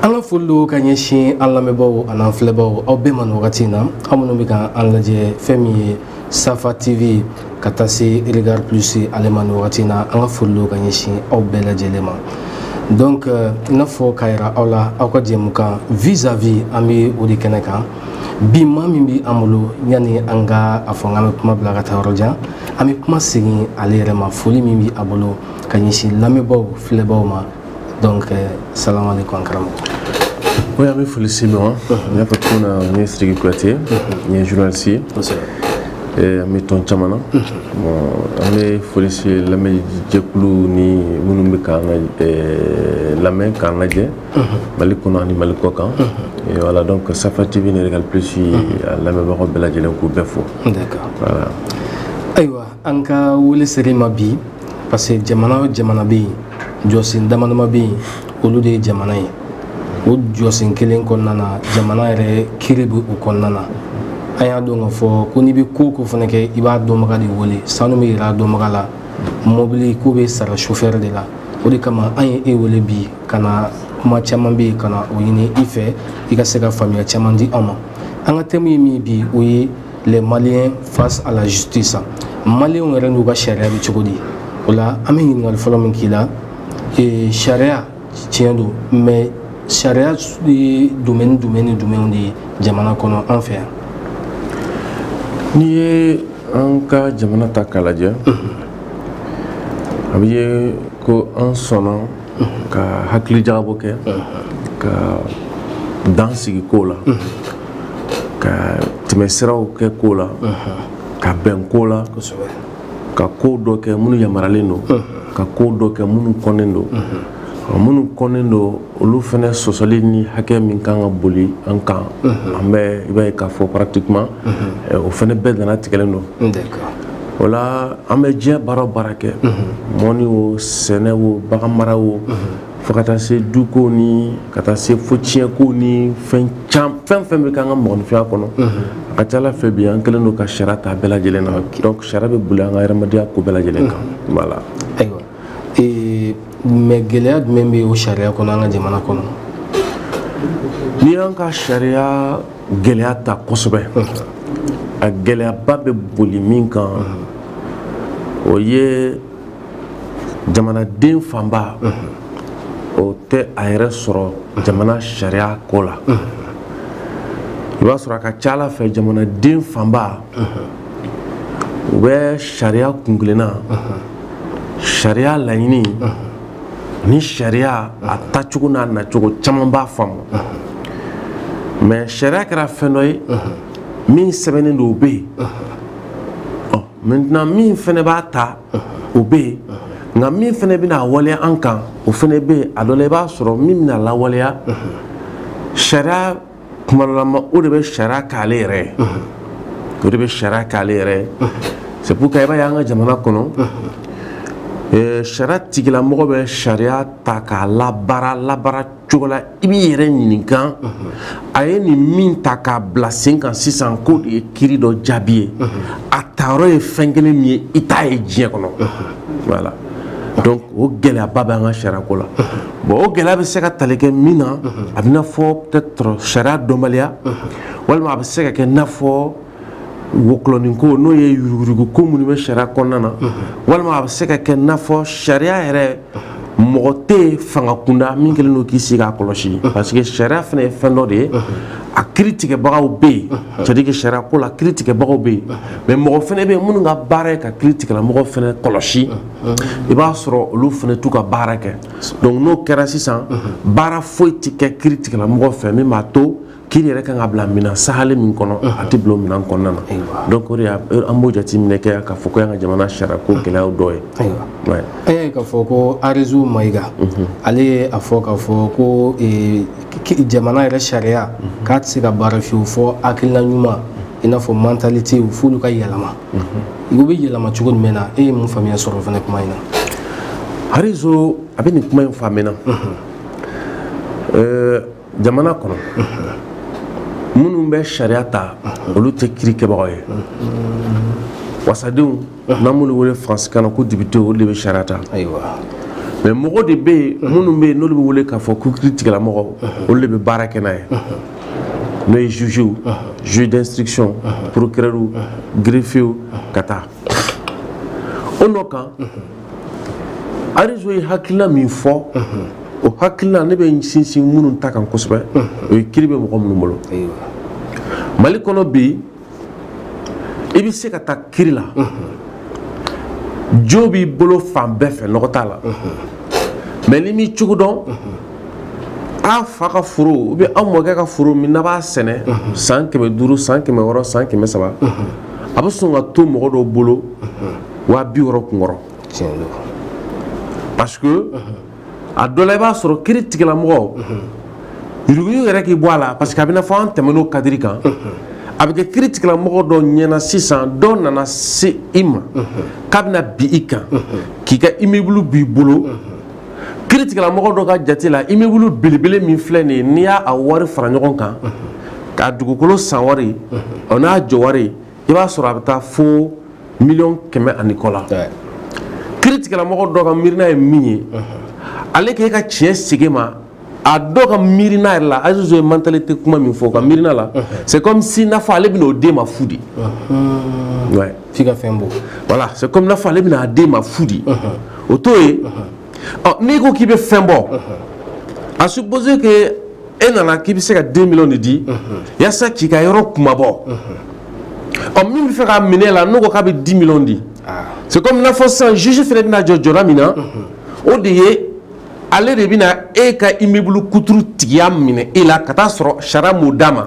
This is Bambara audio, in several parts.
an ka foli don ka ɲɛsin an lamɛnbaaw an'an filɛbaaw aw bɛɛ ma nin wagati in na aw minnu bɛ ka an lajɛ fɛn min ye safa tv ka taa se regard plus ale ma nin wagati in na an ka foli don ka ɲɛsin aw bɛɛ lajɛlen ma donc euh, i n'a fɔ k'a yira aw la aw ka jɛmukan vis à vis an bɛ o de kɛnɛ kan bi maa min bɛ an bolo yanni an ka a fɔ k'an bɛ kuma bila ka taa yɔrɔ jan an bɛ kuma segin ale yɛrɛ ma foli min bɛ a bolo ka ɲɛsin lamɛnbaaw filɛbaaw ma donc euh, salaamaaleykum an karamɔgɔ. oui an bɛ foli si ma. n y'a fɔ cogo min na n ye Sidiki Kuyate. n ye journaliste ye. kosɛbɛ. an bɛ tɔn caman na. an bɛ foli si lamɛnjɛkulu ni minnu bɛ k'an lamɛn k'an lajɛ. mali kɔnɔ ani mali kɔkan. voilà donc Safa TV ni Regard Plus a lamɛnbagaw bɛɛ lajɛlen k'u bɛɛ fo. d'accord voilà. ayiwa. an ka wele sera i ma bi parce que jamana o jamana bɛ yen jɔsen dama dama bɛ yen olu de ye jamana ye o jɔsen kelen kɔnɔna na jamana yɛrɛ kiiri bɛ o kɔnɔna na an y'a dɔn k'a fɔ ko n'i bɛ ko o ko fana kɛ i b'a dɔnbaga de wele sanu bɛ yira a dɔnbaga la mɔbili ko bɛ sara sofɛri de la o de kama an ye e wele bi ka na kuma caman bɛ yen ka na o ɲini i fɛ i ka se ka faamuya caman di an ma an ka tɛmu ye min bi o ye les maliens face à la justice maliens yɛrɛ n'u ka sariya bɛ cogo di o la an bɛ ɲininkali fɔlɔ min k'i la sariya tiɲɛ don mais sariya ye domaine jumɛn ni jumɛnw de ye jamana kɔnɔ an fɛ yan n'i ye an ka jamana ta k'a lajɛ a bɛ ye ko an sɔnna ka hakili jagabɔ kɛ ka dan sigi kow la ka tɛmɛsiraw kɛ kow la ka bɛn kow la ka kow dɔ kɛ minnu yamaralen don ka kow dɔ kɛ minnu kɔnnen don minnu kɔnnen don olu fana sɔsɔli ni hakɛ min kan ka boli an kan an bɛ i b'a ye k'a fɔ pratiquement o fana bɛɛ dannatigɛlen don o la an bɛ diɲɛ baara baara kɛ mɔnni o sɛnɛ o baganmara o fo ka taa se dukow ni ka taa se fo tiɲɛkow ni fɛn fɛn fɛn bɛ k'an ka mɔgɔninfinya kɔnɔ a ka ca la fɛ bi an kɛlen don ka sariya ta bɛɛ lajɛlen na donc sariya bɛ boli an ka hadamadenya ko bɛɛ lajɛlen kan la ayiwa mais gɛlɛya jumɛn bɛ o sariya kɔnɔ an ka jamana kɔnɔ n'i y'an ka sariya gɛlɛya ta kosɛbɛ a gɛlɛyaba bɛ boli min kan o ye jamanaden fanba o tɛ a yɛrɛ sɔrɔ jamana sariya ko la i b'a sɔrɔ a ka ca la fɛ jamanaden fanba u bɛ sariya kunkelenna sariya laɲini ni sariya a tacogo n'a nacogo caman b'a faamu mais sariya kɛra fɛn dɔ ye min sɛbɛnnen don o bɛ yen maintenant min fana b'a ta o bɛ yen nka min fana bɛna a waleya an kan o fana bɛ yen a dɔ la i b'a sɔrɔ min bɛna lawaleya sariya kumalama o de bɛ sariya k'ale yɛrɛ ye o de bɛ sariya k'ale yɛrɛ ye c'est pourquoi i b'a ye an ka jamana kɔnɔ eh, sariya tigilamɔgɔ bɛ sariya ta k'a labaara labaara cogo la i b'i yɛrɛ ɲininkan a ye nin min ta k'a bila sen kan sisan k'o de ye kiri dɔ jaabi ye a tayɔrɔ ye fɛn kelen min ye i t'a ye diɲɛ kɔnɔ voilà o gɛlɛyaba bɛ an ka sariyako la bon o gɛlɛya bɛ se ka tali kɛ min na a bɛna fɔ peut-être sariya dɔnbaliya walima a bɛ se ka kɛ n'a fɔ wɔkɔlɔnin ko n'o ye yuruguyurugu ko minnu bɛ sariya kɔnɔna na walima a bɛ se ka kɛ n'a fɔ sariya yɛrɛ mɔgɔ tɛ fanga kunda min kɛlen don k'i sigi k'a kɔlɔsi parce que sariya fana ye fɛn dɔ de ye a kiri tigɛbagaw bɛ yen c'est-à-dire que sariya ko la kiri tigɛbagaw bɛ yen mais mɔgɔ fana bɛ yen minnu ka baara ye ka kiri tigɛlamɔgɔ fana kɔlɔsi i b'a sɔrɔ olu fana t'u ka baara kɛ donc n'o kɛra sisan baara foyi tɛ kɛ kiri tigɛlamɔgɔ fɛ min b'a to kiri yɛrɛ kan ka bila minɛn sahale min kɔnɔ a tɛ bila o minɛn kɔnɔna na donc o de y'a an b'o jateminɛ kɛ k'a fɔ k'o y'an ka jamana sariya ko gɛlɛyaw dɔ ye ayiwa an y'a ye k'a fɔ ko arizo mayiga ale ye a fɔ k'a fɔ ko jamana yɛrɛ sariya k'a tɛ se ka baara fiyewu fɔ hakilina ɲuman i n'a fɔ mentalitéw f'olu ka yɛlɛma o bɛ yɛlɛma cogo jumɛn na e ye mun faamuya sɔrɔ fana kuma in na arizo a bɛ nin kuma in fɔ min na jamana kɔnɔ minnu bɛ sariya ta olu tɛ kiri kɛbagaw ye wasadenw n'an b'olu wele faransikan na ko députéw olu de bɛ sariya ta mais mɔgɔ de bɛ yen minnu bɛ yen n'olu bɛ wele k'a fɔ ko kiri tigɛlamɔgɔ olu de bɛ baara kɛ n'a ye n'o ye jugew juge d'instruction procureurw greffiers ka taa o nɔ kan arizo ye hakilila min fɔ o hakilila ne bɛ n sinsin minnu ta kan kosɛbɛ o ye kiri bɛ mɔgɔ minnu bolo mali kɔnɔ bi i bɛ se ka taa kiri la jo b'i bolo fan bɛɛ fɛ nɔgɔ t'a la mais n'i m'i cogo dɔn a fa ka foro ou bien a mɔkɛ ka foro min n'a b'a sɛnɛ san kɛmɛ duuru san kɛmɛ wɔɔrɔ san kɛmɛ saba a bɛ sɔn ka to mɔgɔ dɔ bolo waa bi wɔɔrɔ kunkɔrɔ parce que a dɔ la i b'a sɔrɔ kiri tigilamɔgɔ yuruguyugu yɛrɛ k'i bɔ a la parce que a bɛna fɔ an tɛmɛn'o kadiri kan a bɛ kɛ kiri tigilamɔgɔ dɔ ɲɛna sisan dɔ nana se i ma k'a bɛna bin i kan k'i ka imibulu b'i bolo kiri tigilamɔgɔ dɔ ka jate la imibulu belebele min filɛ nin ye n'i y'a a wari fara ɲɔgɔn kan k'a dugukolo san wari o n'a jɔ wari i b'a sɔrɔ a bɛ taa fo miliyɔn kɛmɛ ani kɔ la kiri tigilamɔgɔ dɔ ka miirina ye min ye ale k'e ka tiɲɛ segi e ma a dɔ ka miirina yɛrɛ la azizo ye mentalité kuma min fɔ ka miirina la c'est comme si n'a fɔ ale bɛna o d'e ma fu de f'i ka fɛn bɔ voilà c'est comme n'a fɔ ale bɛna a d'e ma fu de o t'o ye ɔ n'i ko k'i bɛ fɛn bɔ à supposer que e nana k'i bɛ se ka deux millions de di yasa k'i ka yɔrɔ kunmabɔ ɔ min bɛ fɛ k'a minɛ la n'o ko k'a bɛ dix millions di c'est comme n'a fɔ sisan juge fana bɛna jɔ jɔda min na o de ye ale de bɛna e ka immeuble kuturu tigiya minɛ e la ka taa sɔrɔ sariya m'o d'a ma.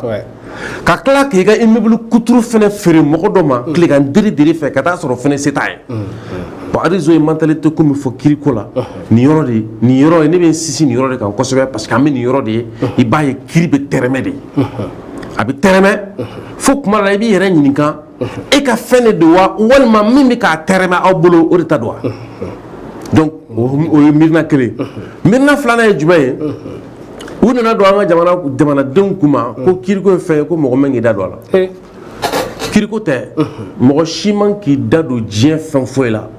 ka tila k'i ka immeuble kuturu fana feere mɔgɔ dɔ ma tilegan mm. diri diri fɛ ka taa sɔrɔ fana se t'a ye mm, mm. bon azizo ye mentalité ko min fɔ kiriko la uh-huh. nin yɔrɔ de nin yɔrɔ ye ne bɛ n sinsin nin yɔrɔ de kan kosɛbɛ parce que an bɛ nin yɔrɔ de ye uh-huh. i b'a ye kiri bɛ tɛrɛmɛ de uh-huh. a bɛ tɛrɛmɛ fo tuma dɔ la i b'i yɛrɛ ɲininka e ka fɛn de don wa walima min bɛ k'a tɛrɛmɛ aw bolo o de ta don wa donc o ye miirina kelen miirina filanan ye jumɛn ye u nan'a don an ka jamana jamanadenw kun na ko kiriko ye fɛn ye ko mɔgɔ man k'i da don a la kiriko tɛ mɔgɔ si man k'i da don diɲɛ fɛn foyi la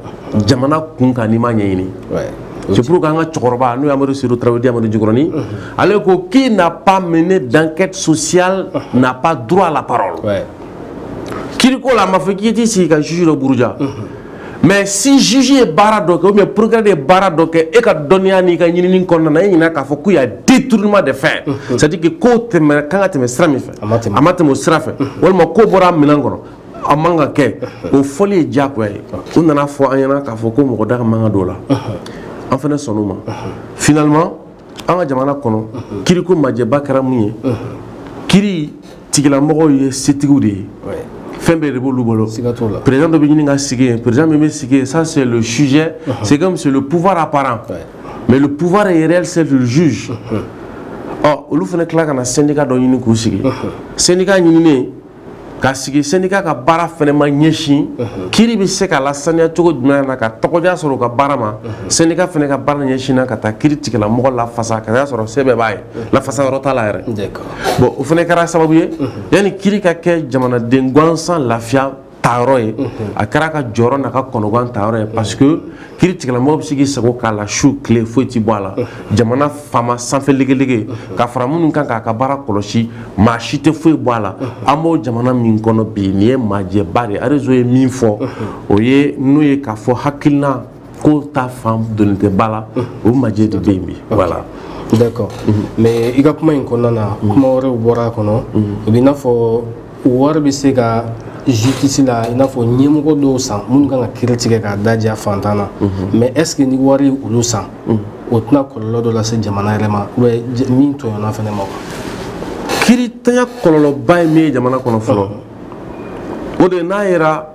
jamana kunkan n'i m'a ɲɛɲini c'est pourquoi an ka cɛkɔrɔba n'o ye amadu seyidu tarawele amadu jikɔrɔni ale ko qui n'a pas mené d'enquête sociale n'a pas droit à la parole kiriko la a ma fɔ k'i t'i sigi ka juge dɔ buruja mais si juge ye baara dɔ kɛ ou bien procureur ye baara dɔ kɛ e ka dɔnniya n'i ka ɲinini kɔnɔna na e ɲɛna k'a fɔ ko y'a détournement de fin c'est à dire que ko ka kan ka tɛmɛ sira min fɛ a ma tɛmɛ o sira fɛ walima ko bɔra a minɛn kɔnɔ a man ka kɛ o fɔli ye diyagoya ye u nan'a fɔ an ɲɛna k'a fɔ ko mɔgɔ da ka man ka don o la an fana sɔnn'o ma finalement an ka jamana kɔnɔ kiriko image ba kɛra mun ye kiri tigilamɔgɔw ye setigiw de ye fɛn bɛɛ de b'olu bolo président dɔ bɛ ɲini ka sigi yen président min bɛ sigi yen ça c'est le sujet c'est comme c'est le pouvoir apparent mais le pouvoir euh réel c'est le juge ɔ olu fana tila ka na syndicat dɔ ɲini k'u sigi syndicat ɲininen ka sigi syndicat ka baara fana ma ɲɛsin mhm. kiri bɛ se ka lasaniya cogo jumɛn na ka tɔgɔdiya sɔrɔ u ka baara ma mhm. syndicat fana ka baara ɲɛsinna ka taa kiri tigila mɔgɔ lafasa ka y'a sɔrɔ sɛbɛn b'a ye mhm. lafasa yɔrɔ t'a la yɛrɛ bɔn o fana kɛra sababu ye yanni kiri ka kɛ jamanaden gansan lafiya tayɔrɔ ye a kɛr'a ka jɔrɔ n'a ka kɔnɔgan tayɔrɔ ye parce que kiritigɛla mɔgɔ bɛ se k'i sago k'a la su tile foyi tɛ bɔ a la jamana faama sanfɛ legelege ka fara minnu kan k'a ka baara kɔlɔsi maa si tɛ foyi bɔ a la an b'o jamana min kɔnɔ bi nin ye maajɛba de arezo ye min fɔ o ye n'o ye k'a fɔ hakilina ko ta fan doni tɛ ba la o majɛ de bɛ yen bi voilà d'accord mais i ka kuma in kɔnɔna na kuma wɛrɛw bɔra a kɔnɔ o b'i n'a fɔ wari bɛ se ka justice la i n'a fɔ ɲɛmɔgɔ dɔw san minnu kan ka kiri tigɛ k'a da diya fantan na mhm. mais est ce que ni wari ye olu san mhm. o tɛna kɔlɔlɔ dɔ lase jamana yɛrɛ ma min tɔɲɔna fana ma kirintanya kɔlɔlɔba ye min ye jamana kɔnɔ fɔlɔ mhm. o de n'a yɛra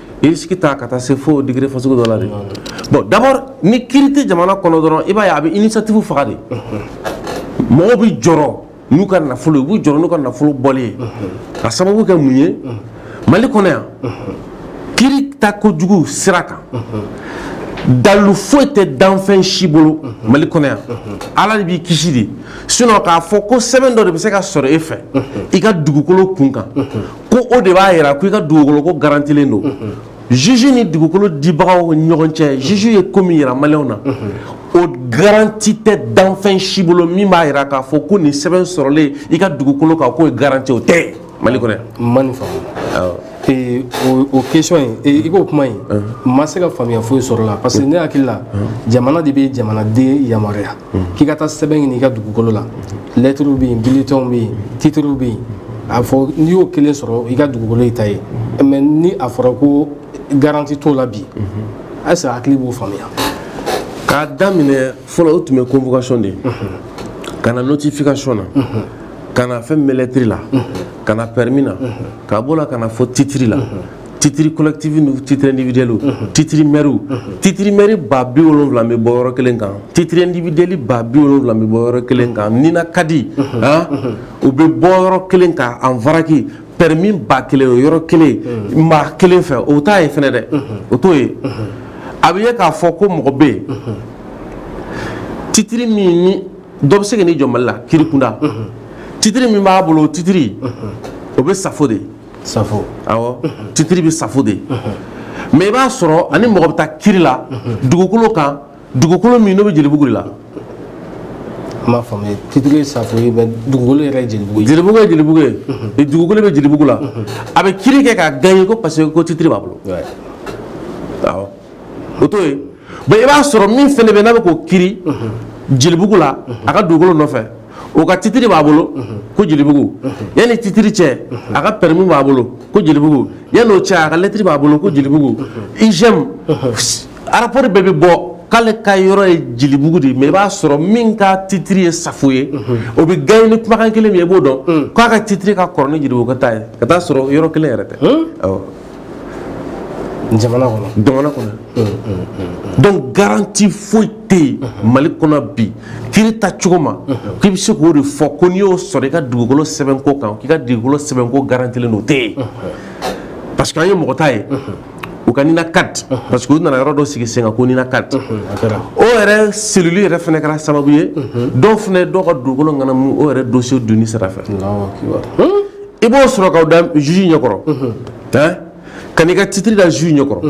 risque ta ka taa se fo degré fasugu dɔ la de bon d'abord ni kiri tɛ jamana kɔnɔ dɔrɔn i b'a ye a bɛ initiative faga de mɔgɔw bɛ jɔrɔ n'u ka nafolo ye u b'u jɔrɔ n'u ka nafolo bɔli ye ka sababu kɛ mun ye mali kɔnɔ yan kiri ta kojugu sira kan dalu foyi tɛ danfɛn si bolo mali kɔnɔ yan ala de b'i kisi de sinɔn k'a fɔ ko sɛbɛn dɔ de bɛ se ka sɔrɔ e fɛ i ka dugukolo kun kan ko o de b'a jira ko i ka dugukolo ko garantilen don juge ni dugukolo dibagaw ni ɲɔgɔn cɛ juge ye ko min jira maliyɛnw na o garanti tɛ danfɛn si bolo min b'a jira k'a fɔ ko nin sɛbɛn sɔrɔlen i ka dugukolo kan k'o ye garanti o tɛ mali kɔnɔ yan. n ma nin faamu. Eh, o question in eh, i k'o kuma in n ma se ka faamuya foyi sɔrɔ a la parce que ne hakili la jamana de bɛ jamanaden yamaruya. k'i ka taa sɛbɛn ɲini i ka dugukolo la lɛtiriw bɛ yen bilitɛnw bɛ yen titiriw bɛ yen a fɔ n'i y'o kelen sɔrɔ i ka dugukolo y'i ta ye mɛ ni a fɔra ko garanti t'o la bi est ce que hakili b'o faamuya k'a daminɛ fɔlɔ o tun bɛ convocation de ye ka na notification na ka na fɛn min bɛ lɛtiri la ka na pɛrimi na ka bɔ o la ka na fo titiri la titiri collective ni titiri individuel mhm. titiri mɛriw mhm. titiri mɛri ba bi wolonwula bɛ bɔ yɔrɔ kelen kan titiri individuel ba bi wolonwula bɛ bɔ yɔrɔ kelen kan mhm. NINACAD u bɛ bɔ yɔrɔ kelen kan en vrac pɛrɛmi ba kelen o yɔrɔ kelen maa kelen fɛ o t'a ye fɛnɛ dɛ o t'o ye a bɛ ye k'a fɔ ko mɔgɔ bɛ yen titiri min ni dɔ bɛ se ka n'i jɔ mali la kiri kunda titiri min b'a bolo o titiri o bɛ safo de ye safo awɔ titiri bɛ safo de mɛ i b'a sɔrɔ a ni mɔgɔ bɛ taa kiri la dugukolo kan dugukolo min n'o bɛ jelibugu de la n b'a faamu titiri ye safo ye mɛ dugukolo yɛrɛ ye jelibugu ye jelibugu ye jelibugu ye dugukolo bɛ jelibugu la a bɛ kiri kɛ k'a gaɲe ko parce que ko titiri b'a bolo awɔ o t'o ye bɔn i b'a sɔrɔ min fɛnɛ bɛ n'a bɛ k'o kiri jelibugu la a ka dugukolo nɔfɛ o ka titiri b'a bolo ko jelibugu yanni titiri cɛ a ka pɛrɛmi b'a bolo ko jelibugu yanni o cɛ a ka lɛtiri b'a bolo ko jelibugu IGM arapɔri bɛɛ bɛ bɔ k'ale ka yɔrɔ ye jelibugu de ye mɛ i b'a sɔrɔ min ka titiri ye safo ye o bɛ gaɲɛ ni kumakan kelen min ye i b'o dɔn k'a ka titiri ka kɔrɔ ni jelibuguka ta ye ka taa sɔrɔ yɔrɔ kelen yɛrɛ tɛ jamana kɔnɔ jamana kɔnɔ mm, mm, mm, donc garanti foyi tɛ yen mali kɔnɔ bi kiri taacogo ma k'i bɛ se k'o de fɔ ko n'i y'o sɔrɔ i ka dugukolo sɛbɛnko kan k'i ka dugukolo sɛbɛnko garantilen don o tɛ yen parce que an ye mɔgɔ ta ye u ka NINACAD parce que u nana yɔrɔ dɔ sigi sen kan ko NINACAD o yɛrɛ cellule yɛrɛ fana kɛra sababu ye dɔw fana dɔw ka dugukolo ŋanamu o yɛrɛ dossier donni sira fɛ i b'o sɔrɔ k'o da juge ɲɛkɔrɔ hein ka n'i ka titre da juge ɲɛkɔrɔ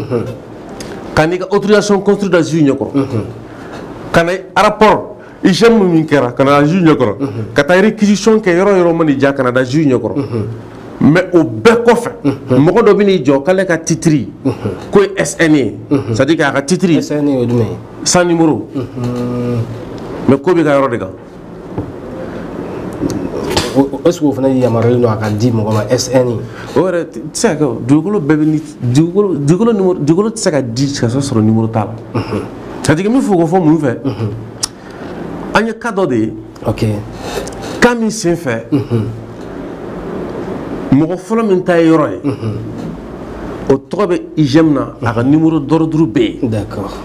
ka n'i ka autorisation construire da juge ɲɛkɔrɔ ka na rapport IGM min kɛra ka n'a da juge ɲɛkɔrɔ ka taa réquisition kɛ yɔrɔ yɔrɔ man'i diya ka n'a da juge ɲɛkɔrɔ mais o bɛɛ kɔfɛ mɔgɔ dɔ bɛ n'i jɔ k'ale ka titiri k'o ye SN ye c'est à dire k'a ka titiri SN ye jumɛn ye sans numéro mais k'o b'i ka yɔrɔ de kan est-ce que o fana yamaruyalen don a ka di mɔgɔ ma SN o yɛrɛ tɛ se ka kɛ o dugukolo bɛɛ bɛ ni dugukolo dugukolo numéro dugukolo tɛ se ka di ka sɔrɔ sɔrɔ numéro t'a la ka jigin min fɔ o fɔ mun fɛ an ye cas dɔ de ye ok cas min sen fɛ mɔgɔ fɔlɔ min ta ye yɔrɔ ye o tɔgɔ bɛ IGM na a ka numéro d'ordre bɛ yen d'accord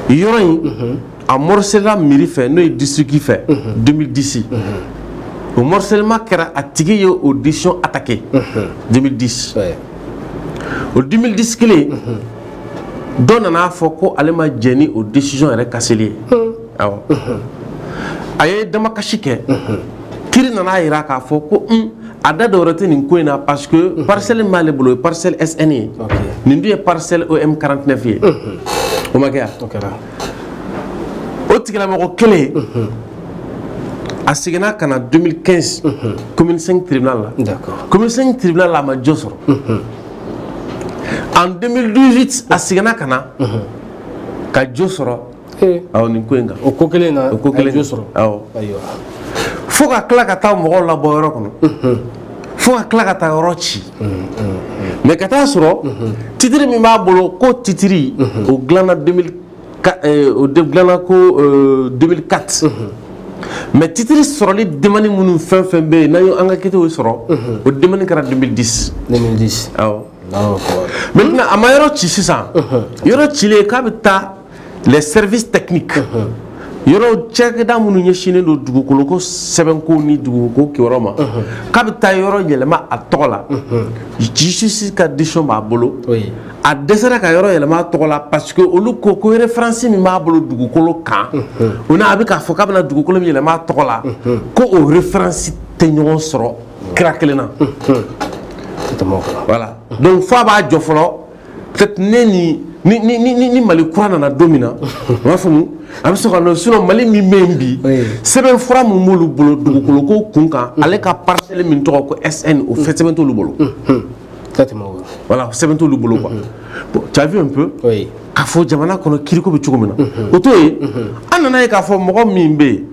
yɔrɔ in a morcela mairie fɛ n'o ye district fɛ 2010 o morcellement kɛra a tigi ye o décision attaqué 2010 o 2010 kelen dɔ nan'a fɔ ko ale ma jɛn ni o décision yɛrɛ kaseli ye awɔ a ye damakasi kɛ kiri nan'a yira k'a fɔ ko un a da dɔwɛrɛ tɛ nin ko in na parce que parcelle min b'ale bolo o ye parcelle SN ye nin dun ye parcelle OM 49 ye o ma jɛya o tigilamɔgɔ kelen a seginna ka na 2015 commune 5 tribunal la commune 5 tribunal la a ma jo sɔrɔ en 2018 a seginna ka na ka jo sɔrɔ awɔ nin ko in kan o ko kelen na o ko kelen jo sɔrɔ awɔ fo ka tila ka taa mɔgɔw labɔ yɔrɔ kɔnɔ fo ka tila ka taa yɔrɔ ci mɛ ka taa sɔrɔ titiri min b'a bolo ko titiri o dilana ko 2004 mɛ titiri sɔrɔli demani minnu fɛn fɛn bɛ yen n'a ye an ka ankɛtiw y'a sɔrɔ o demani kɛra 2010 mɛ a ma yɔrɔ ci sisan yɔrɔ cilen k'a bɛ taa les services techniques yɔrɔ cakɛda minnu ɲɛsinnen don dugukoloko sɛbɛnko ni dugukoloko kibaruyaw ma k'a bɛ taa yɔrɔ yɛlɛma a tɔgɔ la justice ka décision b'a bolo a dɛsɛra ka yɔrɔ yɛlɛma a tɔgɔ la parce que olu ko ko referansi min b'a bolo dugukolo kan o ni a bɛ k'a fɔ k'a bɛna dugukolo min yɛlɛma a tɔgɔ la ko o referansi tɛ ɲɔgɔn sɔrɔ sira kelen na voilà donc f'a b'a jɔ fɔlɔ peut-être ne ni ni ni ni ni mali kura nana don min na n b'a faamu a bɛ sɔn ka nɔ sinon mali min bɛ yen bi sɛbɛn fura min b'olu bolo dugukolo ko kun kan mm. ale ka parcelle min tɔgɔ ko SN o fana sɛbɛn t'olu bolo. voilà sɛbɛn t'olu bolo quoi bon tu as vu un peu. Oui. k'a fɔ jamana kɔnɔ kiriko bɛ cogo min na. Mm-hmm. o to yen mm-hmm. an nana a ye k'a fɔ mɔgɔ min bɛ yen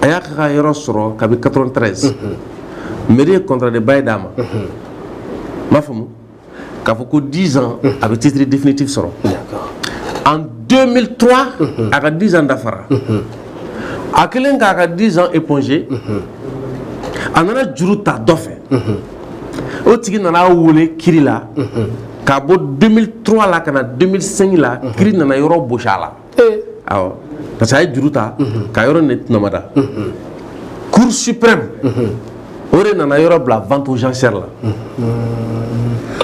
a y'a ka yɔrɔ sɔrɔ kabi 93. mairie ye contrat de bail d'a ma. n b'a faamu. k'a fɔ ko 10 ans a bɛ titre définitif sɔrɔ en 2003 a ka 10 ans dafara a kɛlen k'a ka 10 ans éponger a nana juru ta dɔ fɛ o tigi nana a wele kiri la k'a bɔ 2003 la ka na 2005 la kiri nana yɔrɔ bosi a la awɔ parce que a ye juru ta ka yɔrɔ nin de tɔnɔmada cour suprême o de nana yɔrɔ bila vente aux enchères la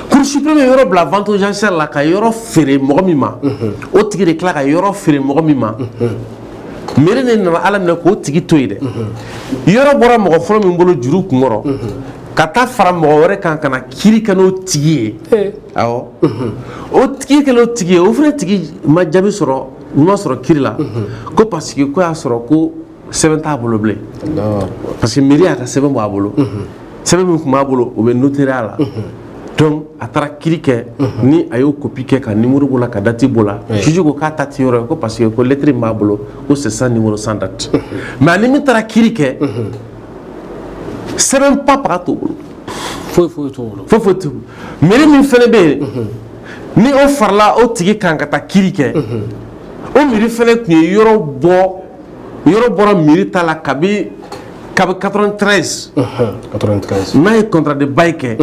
cour suprême ye yɔrɔ bila vente aux enchères la ka yɔrɔ feere mɔgɔ min ma o tigi de tila ka yɔrɔ feere mɔgɔ min ma mairie de nana a laminɛ k'o tigi to yen dɛ yɔrɔ bɔra mɔgɔ fɔlɔ min bolo juru kunkɔrɔ ka taa fara mɔgɔ wɛrɛ kan ka na kiri kɛ n'o tigi ye awɔ o tigi kɛlen o tigi ye o fana tigi ma jaabi sɔrɔ ɲuman sɔrɔ kiri la ko parce que ko y'a sɔrɔ ko sɛbɛn t'a bolo bilen parce que mairie y'a ka sɛbɛn b'a bolo sɛbɛn min tun b'a bolo o bɛ notariat la donc a taara kiri kɛ ni a y'o kopi kɛ ka nimoro b'o la ka dati b'o la juge ko k'a ta tɛ yɔrɔ ye ko parce que ko lɛtiri min b'a bolo ko c'est sans numéro sans date mais ani min taara kiri kɛ sɛbɛn pa paga t'o bolo foyi foyi t'o bolo foyi foyi t'o bolo Mairie min fana bɛ yen ni o farala o tigi kan ka taa kiri kɛ o mairie fana tun ye yɔrɔ bɔ yɔrɔ bɔra mairie ta la kabi 93 n'a ye contrat de bail kɛ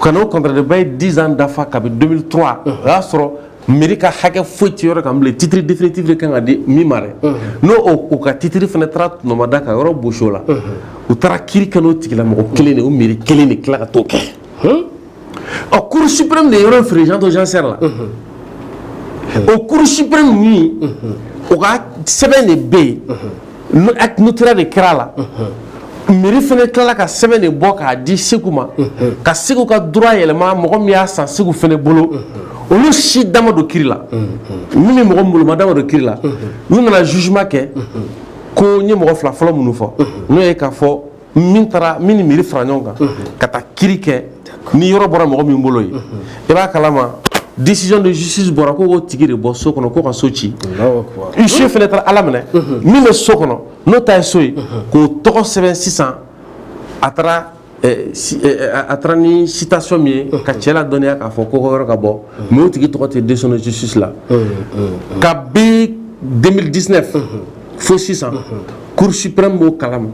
ka na o contrat de bail 10 ans dafa kabi 2003 o y'a sɔrɔ mairie ka hakɛ foyi tɛ yɔrɔ kan bilen titre définitif de ka kan ka di min ma n'o ka titre fana taara tɔnɔmada ka yɔrɔ bosi o la u taara kiri kɛ o tigi la mɔgɔ kelen de o mairie kelen de tila ka to kɛ Hmm? ɔ cour suprême de yɔrɔ feere vente aux enchères la o cour suprême min o ka sɛbɛn de bɛ yen notarié de kɛra a la mairie fana tilala ka sɛbɛn de bɔ k'a di segu ma ka segu ka droit yɛlɛma mɔgɔ min y'a san segu fana bolo olu si da ma don kiri la min bɛ mɔgɔ boloma da ma don kiri la n'u nana jugement kɛ ko n ye mɔgɔ fila fɔlɔ minnu fɔ n'o ye k'a fɔ min taara min ni mairie fara ɲɔgɔn kan ka taa kiri kɛ ni yɔrɔ bɔra mɔgɔ min bolo ye i b'a kalama décision de justice bɔra ko k'o tigi de bɔ so kɔnɔ ko ka so ci huissier fana taara ala minɛ min bɛ so kɔnɔ n'o ta ye so ye k'o tɔgɔ sɛbɛn sisan a taara eh, si- eh, eh, a taara ni citation min ye ka cɛ ladɔnniya k'a fɔ ko ko yɔrɔ ka bɔ mais o tigi tɔgɔ tɛ décision de justice la kabi 2019 fo sisan cour suprême b'o kalama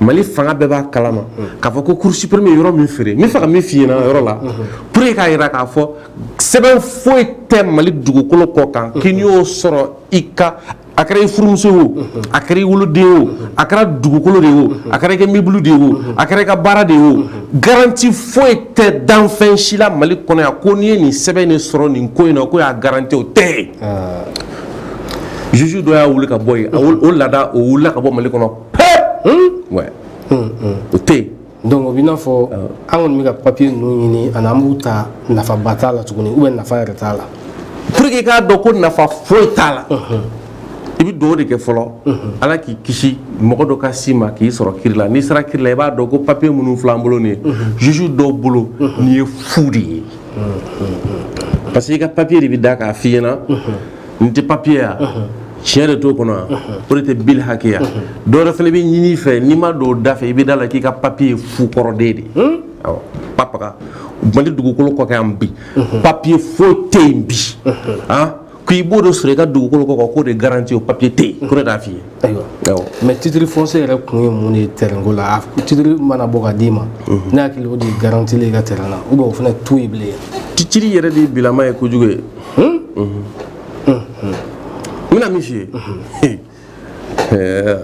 mali fanga bɛɛ b'a kalama k'a fɔ ko cour suprême ye yɔrɔ min feere n b'a fɛ ka min f'i ɲɛna yɔrɔ la pour que k'a jira k'a fɔ sɛbɛn foyi tɛ mali dugukolo kɔ kan k'i n'i y'o sɔrɔ i ka a kɛra i furumuso ye o a kɛra i woloden ye o a kɛra dugukolo de ye o a kɛra i ka mobili de ye o a kɛra i ka baara de ye o garanti foyi tɛ danfɛn si la mali kɔnɔ yan ko n'i ye nin sɛbɛn in de sɔrɔ nin ko in na k'o y'a garanti o tɛ yen juge dɔ y'a wuli ka bɔ yen o laada o wulila ka bɔ mali kɔnɔ pe o tɛ yen donc o b'i n'a fɔ an kɔni bɛ ka papiye ninnu ɲini ani an b'u ta nafaba t'a la tuguni ou bien nafa yɛrɛ t'a la pour que i k'a dɔn ko nafa foyi t'a la i bɛ dugawu de kɛ fɔlɔ ala k'i kisi mɔgɔ dɔ ka s'i ma k'i sɔrɔ kiri la n'i sera kiri la i b'a dɔn ko papiye minnu filɛ an bolo nin ye juge dɔw bolo nin ye fu de ye parce que i ka papier de bɛ da k'a f'i ɲɛna n tɛ papier ya tiɲɛ de t'o kɔnɔ yan o de tɛ bil hakɛya dɔ wɛrɛ fana bɛ ɲini i fɛ n'i ma don o da fɛ i bɛ da a la k'i ka papier ye fu kɔrɔden de ye hmm? awɔ papaga mali dugukolo kɔ kan yan bi papier foyi tɛ yen bi k'i b'o de sɔrɔ i ka dugukolo kɔ k'o de garanti o papiye tɛ yen ko ne t'a f'i ye ayiwa mais titre foncier yɛrɛ kun ye mun de ye tɛrɛnko la titiri mana bɔ ka d'i ma ne hakili o de ye garanti ye i ka tɛrɛn na ou bien o fana t'o ye bilen titiri yɛrɛ de ye bilama ye kojugu ye n bɛna min f'i ye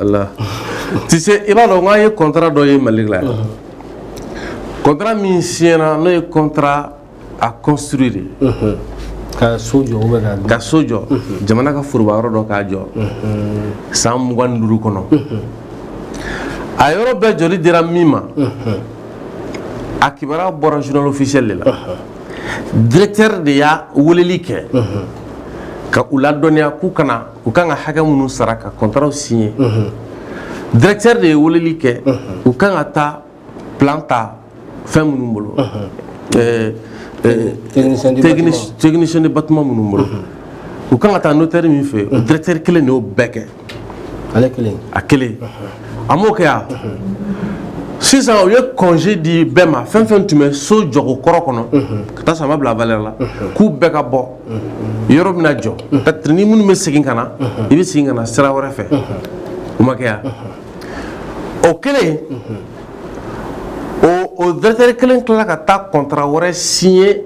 ala ti se i b'a dɔn k'an ye kɔntara dɔ ye mali la yan kɔntara min siɲɛna n'o ye kɔntara a construire de unhun ka so jɔ ou bien ka ka so jɔ jamana ka foroba yɔrɔ dɔ k'a jɔ san mugan ni duuru kɔnɔ a yɔrɔ bɛɛ jɔli dira min ma a kibaruya bɔra journal officiel de la directeur de y'a weleli kɛ ka u ladɔnniya k'u ka na u kan ka hakɛ minnu sara ka kɔntaraw siɲɛ directeur de ye weleli kɛ u kan ka taa plan ta fɛn minnu bolo technicien de bâtiment minnu bolo u kan ka taa notaire min fɛ o directeur kelen de y'o bɛɛ kɛ a kelen a m'o kɛ yan sisan u ye congé di bɛɛ ma fɛn fɛn tun bɛ so jɔko kɔrɔ kɔnɔ ka taa sama bila valeur la k'u bɛɛ ka bɔ yɔrɔ bɛna jɔ ni minnu bɛ segin ka na i bɛ segin ka na sira wɛrɛ fɛ o ma kɛ yan o kelen o directeur kelen tilala ka taa contrat wɛrɛ signer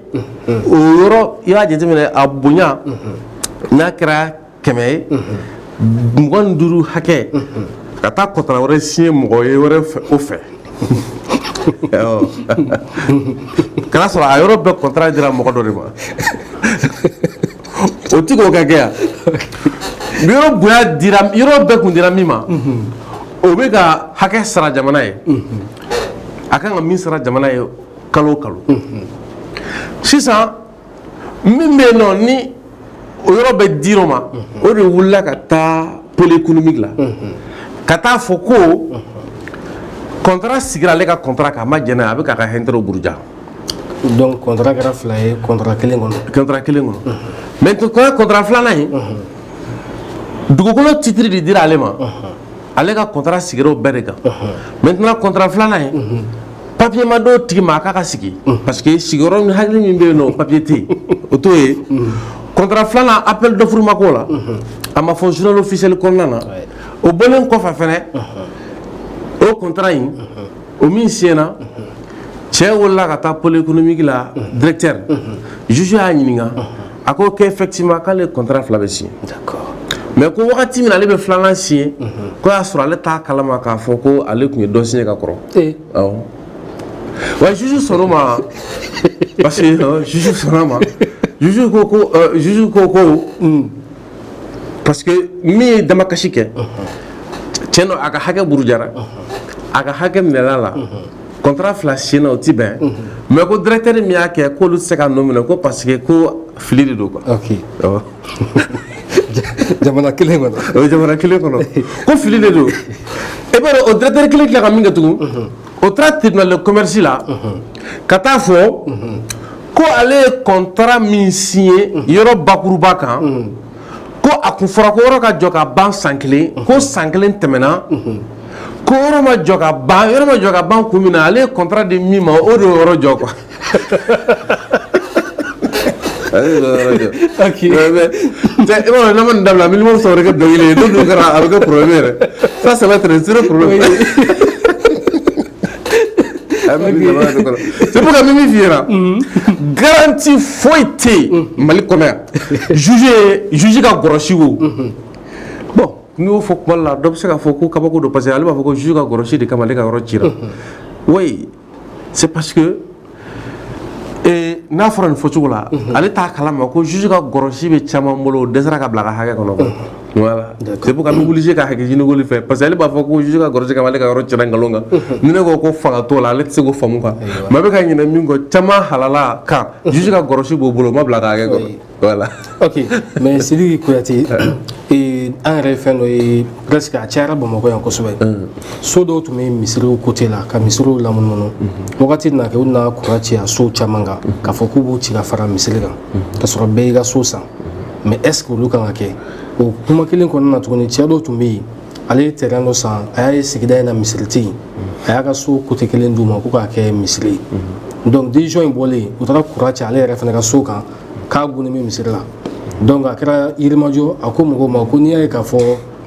o yɔrɔ i b'a jateminɛ a bonya n'a kɛra kɛmɛ ye mugan ni duuru hakɛ ka taa contrat wɛrɛ signer mɔgɔ ye wɛrɛw fɛ ka n'a sɔrɔ a yɔrɔ bɛɛ contrat dira mɔgɔ dɔ de ma o ti k'o ka kɛ yan yɔrɔ bonya dira yɔrɔ bɛɛ tun dira min ma o bɛ ka hakɛ sara jamana ye a kan ka min sara jamana ye kalo o kalo sisan min bɛ yen nɔ ni o yɔrɔ bɛɛ dir'o ma o de wulila ka taa pôle économique la ka t'a fɔ ko kɔntara sigira ale ka kɔntara kan a ma jɛn n'a ye a bɛ k'a ka intérêtw buruja donc contrat kɛra fila ye contrat kelen kɔnɔ contrat kelen kɔnɔ maintenant contrat filanan in dugukolo titre de dira ale ma ale ka contrat sigira o bɛɛ de kan maintenant contrat filanan in papier ma d'o tigi ma a k'a ka sigi parce que sigiyɔrɔ min hakili min bɛ yen nɔ papier tɛ yen o t'o ye contrat filanan appel d'offre ma k'o la a ma fɔ journal officiel kɔnɔna na o bɔlen kɔfɛ fɛnɛ o contrat in o min signéna cɛ wulila ka taa pôle économique la directeur juge y'a ɲininka a ko ko effectivement k'ale contrat fila bɛɛ signé mais ko wagati min na ale bɛ filanan signé k'o y'a sɔrɔ ale t'a kalama k'a fɔ ko ale tun ye dɔ signé ka kɔrɔ eh. awɔ wa juge sɔnn'o ma parce que juge sɔnn'a ma juge ko ko euh, juge ko ko parce que min ye damakasi kɛ tiɲɛ don a ka hakɛ burujara a ka hakɛ minɛl'a la kɔntara fila siyena o tɛ bɛn mais ko directeur min y'a kɛ k'olu tɛ se k'a nɔ minɛ ko parce que ko fili de don quoi ok awɔ jamana kelen kɔnɔ o ye jamana kelen kɔnɔ ko fili de don e b'a dɔn o directeur kelen tila ka min kɛ tugun o taara tribunal de commerce la ka t'a fɔ ko ale ye kɔntara min siye mhm. yɔrɔ bakuruba kan mhm. ko a tun fɔra ko yɔrɔ ka jɔ ka ban san kelen mhm. ko san kelen tɛmɛna ko yɔrɔ ma jɔ ka ban yɔrɔ ma jɔ ka ban kun min na ale ye kɔntara di min ma o de y'o yɔrɔ jɔ quoi i b'a dɔn n'an ma nin dabila miliyɔn saba wɛrɛ kɛ dɔnkili ye n'o dun kɛra a bɛ kɛ porobilɛmu yɛrɛ sa sɛbɛ tɛrɛ zero porobilɛmu sabu min fi garanti foyi tɛ yen mali kɔnɔ yan juge ka grosse wo bɔn n y'o fɔ kuma la dɔ bɛ se k'a fɔ ko kabako don parce que ale b'a fɔ ko juge ka grosse de kama ale ka yɔrɔ cira wa c'est pas n'a fɔra nin fɔ cogo la ale t'a kalama ko juge ka grosse bɛ caman bolo dɛsɛra ka bila a ka hakɛ kɔnɔ ka wuli ka hakɛ ɲini fɛ parce que ale b'a fɔ ko juge ka grosse ka ale ka yɔrɔ ci nkalon kan ni ne ko ko fanga t'o la ale tɛ se k'o faamu kan maa bɛ ka ɲina min kɔ caman halala kan juge ka grosse b'o bolo ma bila ka hakɛ kɔnɔ voilà ok mais Sidiki Kuyate ee an yɛrɛ ye fɛn dɔ ye presque a cayara Bamakɔ yan kosɛbɛ so dɔw tun bɛ misiriw côté la ka misiriw lamunumunu wagati na kɛ u nana croix ci a sow caman kan k'a fɔ k'u b'u ci ka fara misiri kan ka sɔrɔ bɛɛ y'i ka so san mais est ce que olu kan ka kɛ o kuma kelen kɔnɔna na tuguni cɛ dɔw tun bɛ yen ale ye terrain dɔ san a y'a ye sigida in na misiri tɛ yen a y'a ka so côté kelen d'u ma ko k'a kɛ misiri ye donc décision in bɔlen u taara croix ci ale yɛrɛ fana ka so kan k'a gunnen bɛ misiri la donc a kɛra Yirimajɔ a ko mɔgɔw ma ko n'i y'a ye k'a fɔ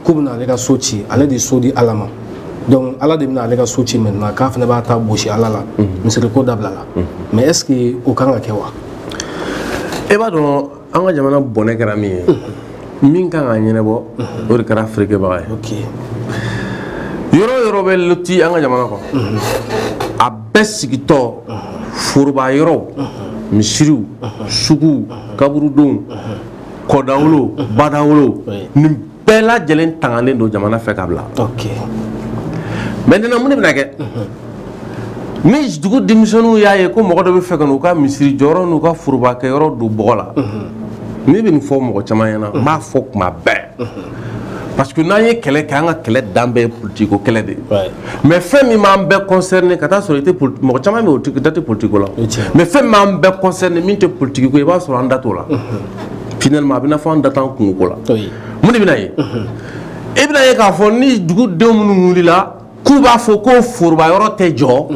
k'u bɛna ale ka so ci ale de so di ala ma donc ala de bɛna ale ka so ci maintenant k'a fana b'a ta bosi ala la mhm. misiriko dabila la mhm. mais est ce que o kan ka kɛ wa e b'a dɔn an ka jamana bɔnɛ kɛra min ye mhm. min kan k'a ɲɛnɛbɔ o de kɛra feerekɛbaga ye yɔrɔ yɔrɔ bɛ loti an ka jamana kɔnɔ a bɛɛ sigitɔ foroba yɔrɔw misiriw suguw kaburudow kɔdawolow badawolow nin bɛɛ lajɛlen tangalen don jamana fɛ k'a bila maintenant mun de bɛna kɛ ni dugu denmisɛnninw y'a ye ko mɔgɔ dɔ b'a fɛ ka n'u ka misiri jɔyɔrɔ n'u ka forobakɛ yɔrɔ don bɔgɔ la ne bɛ nin fɔ mɔgɔ caman ɲɛna n b'a fɔ tuma bɛɛ parce que n'an ye kɛlɛ kɛ an ka kɛlɛ dan bɛɛ ye politiko kɛlɛ de ye mais fɛn min b'an bɛɛ concerné ka taa sɔrɔ i tɛ mɔgɔ caman bɛ yen da tɛ politiko la mais fɛn min b'an bɛɛ concerné min tɛ politiko ye i b'a sɔrɔ an da t'o la finalement a bɛ na fɔ an da t'an kunko ko la mun de bɛ na ye e bɛn'a ye k'a fɔ ni dugudenw minnu wulila k'u b'a fɔ ko foroba yɔrɔ tɛ jɔ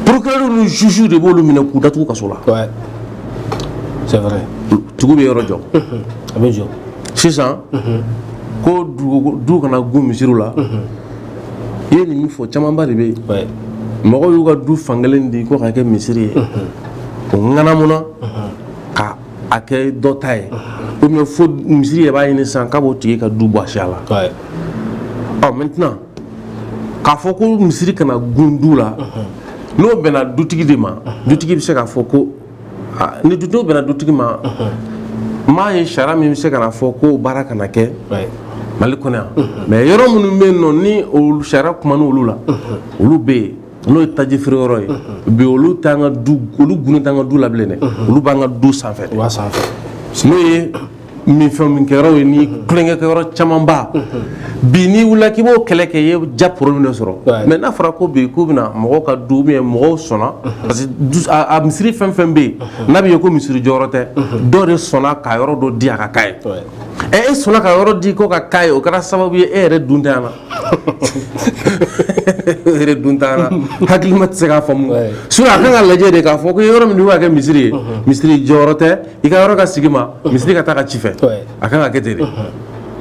procureur ni juge de b'olu minɛ k'u datugu kaso la c'est vrai tugu bɛ yɔrɔ jɔ a bɛ jɔ sisan ko du kana gun misiriw la i ye nin min fɔ camanba de bɛ yen mɔgɔw y'u ka du fankelen di ko k'a kɛ misiri ye o ŋanamuna a kɛ dɔ ta ye ou bien fo misiri yɛrɛ b'a ɲini sisan k'a b'o tigi ka du bɔsi a la ɔ maintenant k'a fɔ ko misiri kana gun du la n'o bɛnna dutigi de ma dutigi bɛ se k'a fɔ ko n'o bɛnna dutigi ma m'a ye sariya min bɛ se ka n'a fɔ ko baara kana kɛ mali kɔnɔ yan mais yɔrɔ minnu bɛ yen nɔ ni sariya kuma n'olu la olu bɛ yen n'o ye taji feere yɔrɔ ye bi olu t'an ka du olu gunnen t'an ka du la bilen dɛ olu b'an ka du sanfɛ de n'o ye minfɛn min kɛ yɔrɔ ye ni tulonkɛ kɛ yɔrɔ camanba bi n'i wulila k'i b'o kɛlɛ kɛ i ye déjà problème de sɔrɔ mais n'a fɔra ko bi k'u bɛna mɔgɔw ka du ou bien mɔgɔw sɔnna parce que a misiri fɛn fɛn bɛ yen n'a bɛ ye ko misiri jɔyɔrɔ tɛ dɔ de sɔnna ka yɔrɔ dɔ di a ka k'a ye ɛ e sɔnna ka yɔrɔ di ko ka k'a ye o kɛra sababu ye e yɛrɛ dun tɛ yan na yɛrɛ dun t'a la hakilima tɛ se k'a faamu sinon a kan ka lajɛ de k'a fɔ ko i ye yɔrɔ min di a ka kɛ misiri ye misiri jɔyɔrɔ tɛ i ka yɔrɔ ka segin i ma misiri ka t'a ka ci fɛ a kan ka kɛ ten de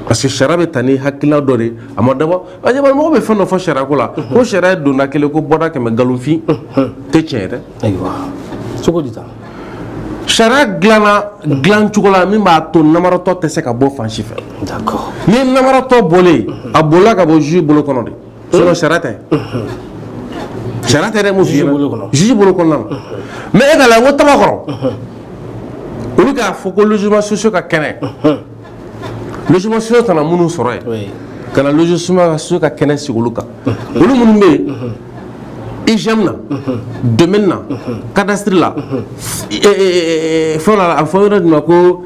parce que sariya bɛ ta ni hakilina dɔ de a ma dabɔ a ɲɛ mɔgɔ bɛ fɛn dɔ fɔ sariya ko la ko sariya ye donda kelen ko bɔda kɛmɛ nkalonfin tɛ tiɲɛ ye dɛ ayiwa cogo di tan sariya dilanna dilan cogo la min b'a to namaratɔ tɛ se ka bɔ fan si fɛ ni namaratɔ bɔlen a bolila ka bɔ juge bolo kɔnɔ de sinon sariya tɛ sariya tɛ dɛ mun f'i ɲɛna juge bolo kɔnɔna na mais e k'a lajɛ n ko Tabakɔrɔ olu k'a fɔ ko logement sociaux ka kɛnɛ logement sociaux nana minnu sɔrɔ yen ka na logement sociaux ka kɛnɛ sigi olu kan olu minnu bɛ yen IGM na domaine na cadastre la fɛn la a fɔ yɔrɔ dɔ ma ko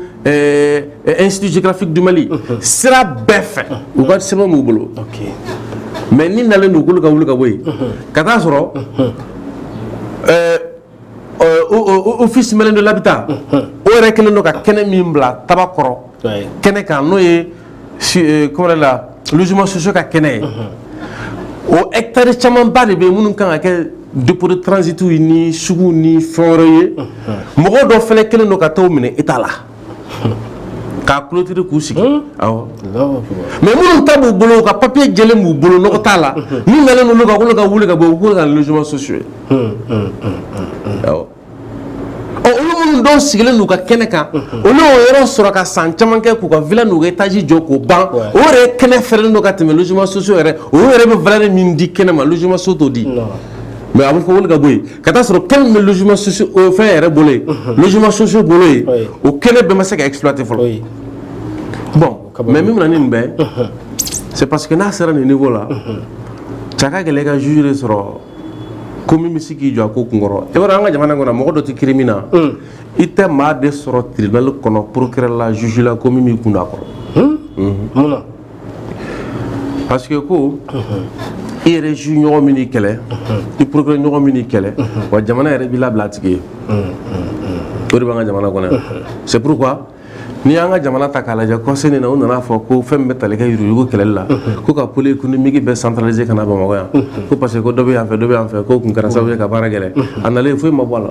institut géographique du Mali sira bɛɛ fɛ u ka sɛbɛn b'u bolo mais nin nalen don k'olu ka wuli ka bɔ yen ka t'a sɔrɔ Office malien de l'habitat o yɛrɛ kɛlen don ka kɛnɛ min bila Tabakɔrɔ kɛnɛ kan n'o ye kɔrɛ la logement sociaux ka kɛnɛ ye o hɛkitari camanba de bɛ yen minnu kan ka kɛ dépôt de transitw ni sugu ni fɛn wɛrɛ ye mɔgɔ dɔ fana kɛlen don ka t'o minɛ e t'a la k'a clôturer k'u sigi hmm? awɔ mais minnu ta b'u bolo u ka papiye jɛlen b'u bolo nɔgɔ t'a la min nalen don k'olu ka wuli ka bɔ u k'o ka logement sociaux ye awɔ ɔ olu minnu dɔw sigilen don u ka kɛnɛ kan olu y'o yɔrɔ sɔrɔ ka san caman kɛ k'u ka villa n'u ka étage jɔ k'o ban o yɛrɛ kɛnɛ fɛrɛlen don ka tɛmɛ logement sociaux yɛrɛ o yɛrɛ bɛ valeur min di kɛnɛ ma logement sociaux t'o di mais a bɛ fɔ ka bɔ ka taa sɔrɔ kelen bɛ fɛn yɛrɛ bolo yen logement social bolo yen o kɛnɛ bɛɛ ma se ka exploiter fɔlɔ bon mais min nin bɛɛ c'est parce que n'a sera nin niveau la a ka gɛlɛn i ka juge de sɔrɔ ko min bɛ se k'i jɔ a ko kun kɔrɔ e b'a an ka jamana kɔnɔ mɔgɔ dɔ tɛ kiri min na i tɛ maa de sɔrɔ tribunal kɔnɔ procureur la juge la ko min b'i kun da a kɔrɔ parce que ko i yɛrɛ juge ɲɔgɔn bɛna i kɛlɛ i procureur ɲɔgɔn bɛna i kɛlɛ wa jamana yɛrɛ b'i labila a tigi ye o de b'an ka jamana kɔnɔ yan c'est pourquoi n'i y'an ka jamana ta k'a lajɛ conseil nin na u nana fɔ ko fɛn min bɛ tali kɛ yuruyurugu kɛlɛli la ko ka pôle économique bɛɛ centraliser ka na bamakɔ yan ko parce que ko dɔ bɛ yan fɛ dɔ bɛ yan fɛ k'o tun kɛra sababu ye ka baara gɛlɛya a nalen foyi ma bɔ a la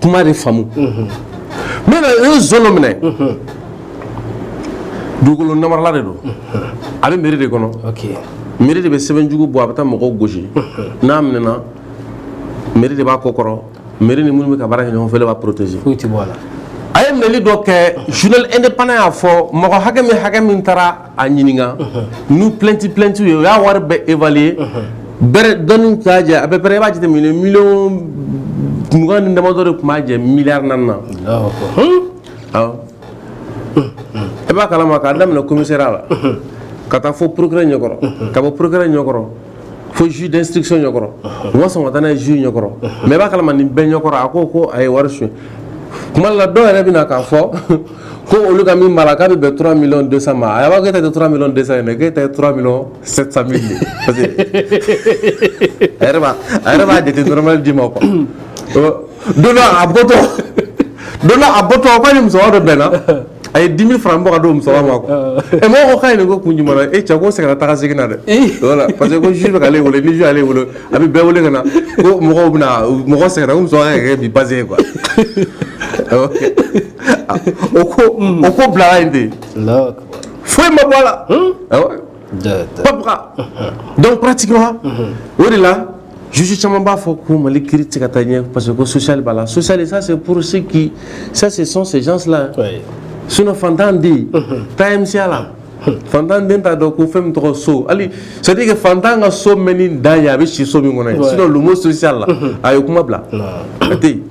kuma de faamu n bɛna u ye zon dɔ minɛ dugukolo namarala de don a bɛ mairie de kɔnɔ mairie de bɛ sɛbɛnjugu bɔ a bɛ taa mɔgɔw gosi n'a minɛna mairie de b'a kɔ kɔrɔ mairie ni minnu bɛ ka baara kɛ ɲɔgɔn fɛ de b'a protégé foyi tɛ bɔ a la a ye minɛli dɔ kɛ journal indépendant y'a fɔ mɔgɔ hakɛ min hakɛ min taara a ɲininka n'u plainte plainte ye u y'a wari bɛɛ évaluer bɛrɛ dɔɔnin t'a jɛ à peu près i b'a jateminɛ miliyɔn mugan ni damadɔ de tun b'a jɛ miliyari naani na awɔ i b'a kalama k'a daminɛ commissariat la ka taa fo procureur ɲɛkɔrɔ ka bɔ procureur ɲɛkɔrɔ fo juge d'instruction ɲɛkɔrɔ u ma sɔn ka taa n'a ye juge ɲɛkɔrɔ mais i b'a kalama nin bɛɛ ɲɛkɔrɔ a ko ko a ye wari suɲɛ kuma la dɔw yɛrɛ bɛna k'a fɔ ko olu ka min b'a la k'a bɛ bɛn 3 millions 200 ma a b'a k'e ta tɛ 3 millions 200 ye dɛ k'e ta ye 3 millions 700 mille de parce que a yɛrɛ b'a a yɛrɛ b'a jate normal d'i ma quoi don a bɔtɔ don a bɔtɔ k'a ni musokɔrɔba dɔ bɛnna a ye 10 mille francs bɔ k'a di musokɔrɔba ma ɛ mɔgɔ ko ka nin ko kun jumɛn e cɛ ko sɛgɛn taa segin na dɛ parce que ko juge b'ale wele ni juge y'ale wele a bɛ bɛɛ wele ka na ko mɔgɔw bɛna mɔgɔ sɛgɛn ko muso kɛ bi basi ye quoi o ko o ko bilala yen de foyi ma bɔ a la papka donc pratiquement o de la juge caman b'a fɔ ko mali kiri tɛ ka taa ɲɛ parce que ko social b'a la social ça c'est pour ceux qui ça ce sont ces gens là sinon fantan den bɛ taa mca la fantan den t'a dɔn ko fɛn min tɔgɔ social c'est à dire que fantan ka so mɛnni dan ye a bɛ si so min kɔnɔ ye sinon le mot social là a y'o kuma bila a tɛ yen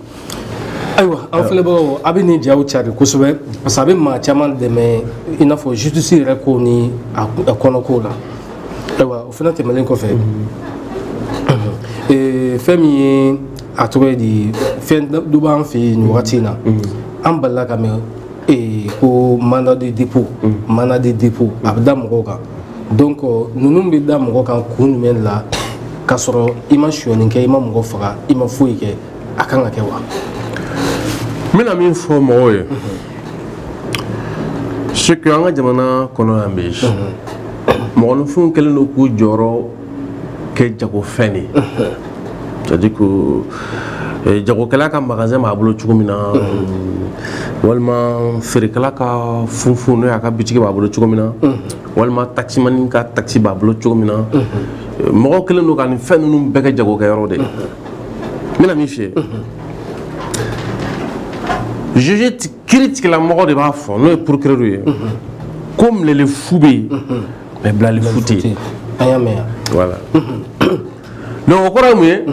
ayiwa aw filɛbagaw a bɛ nin jaw cari kosɛbɛ parce que a bɛ maa caman dɛmɛ i n'a fɔ justice yɛrɛ ko ni a kɔnɔkow la ayiwa o fana tɛmɛnen kɔfɛ eh, fɛn min ye a tɔgɔ ye di fɛn dɔ b'an fɛ yen nin wagati in na an delila k'a mɛn eh, ko mandat de dépôt mandat de dépôt a bɛ da mɔgɔw kan donc ninnu bɛ da mɔgɔ kan kun jumɛn la k'a sɔrɔ i ma sonyani kɛ i ma mɔgɔ faga i ma foyi kɛ a kan ka kɛ wa n bɛna min fɔ mɔgɔw ye surtout an ka jamana kɔnɔ yan bi mɔgɔninfinw kɛlen don k'u jɔyɔrɔ kɛ jagofɛn de c'est à dire que eh, jagokɛla ka magasin b'a bolo cogo min na walima feerekɛla ka funfun n'o y'a ka bitigi b'a bolo cogo min na walima taximani ka taxi b'a bolo cogo min na mɔgɔw kɛlen don ka nin fɛn ninnu bɛɛ kɛ jagokɛyɔrɔ de ye n bɛna min f'i ye juge kiiritigɛlamɔgɔ de b'a fɔ n'o ye procureur ye ko minɛli fu bɛ yen mais bilali fu tɛ yen an y'a mɛn yan voilà donc o kɔrɔ ye mun ye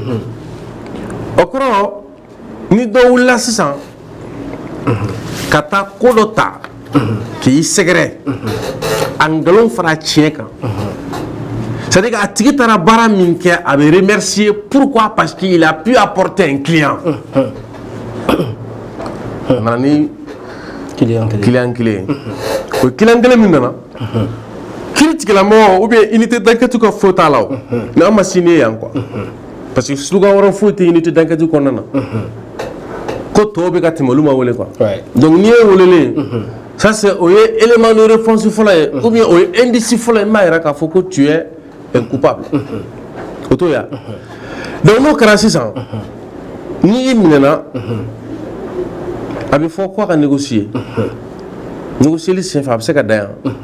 o kɔrɔ ni dɔ wulila sisan ka taa ko dɔ ta k'i sɛgɛrɛ a nkalon fara tiɲɛ kan c'est à dire que a tigi taara baara min kɛ a bɛ remercier pourquoi parce qu'il a pu apporter un client a nana ni client kelen ye o client kelen min nana kiiritigɛlamɔgɔ ou bien unité d'enquête ka fo t'a la o mais an ma sini ye yan quoi parce que slogan wɛrɛ foyi tɛ unité d'enquête kɔnɔna na ko tɔw bɛ ka tɛmɛ olu ma wele quoi donc ni e welelen ça c'est o ye élément de réponse fɔlɔ ye ou bien o ye indice fɔlɔ ye min b'a yira k'a fɔ ko tu es un coupable o t'o ye wa donc n'o kɛra sisan n'i minɛna a bɛ fɔ ko a ka négocier négocieli senfɛ a bɛ se ka dan yan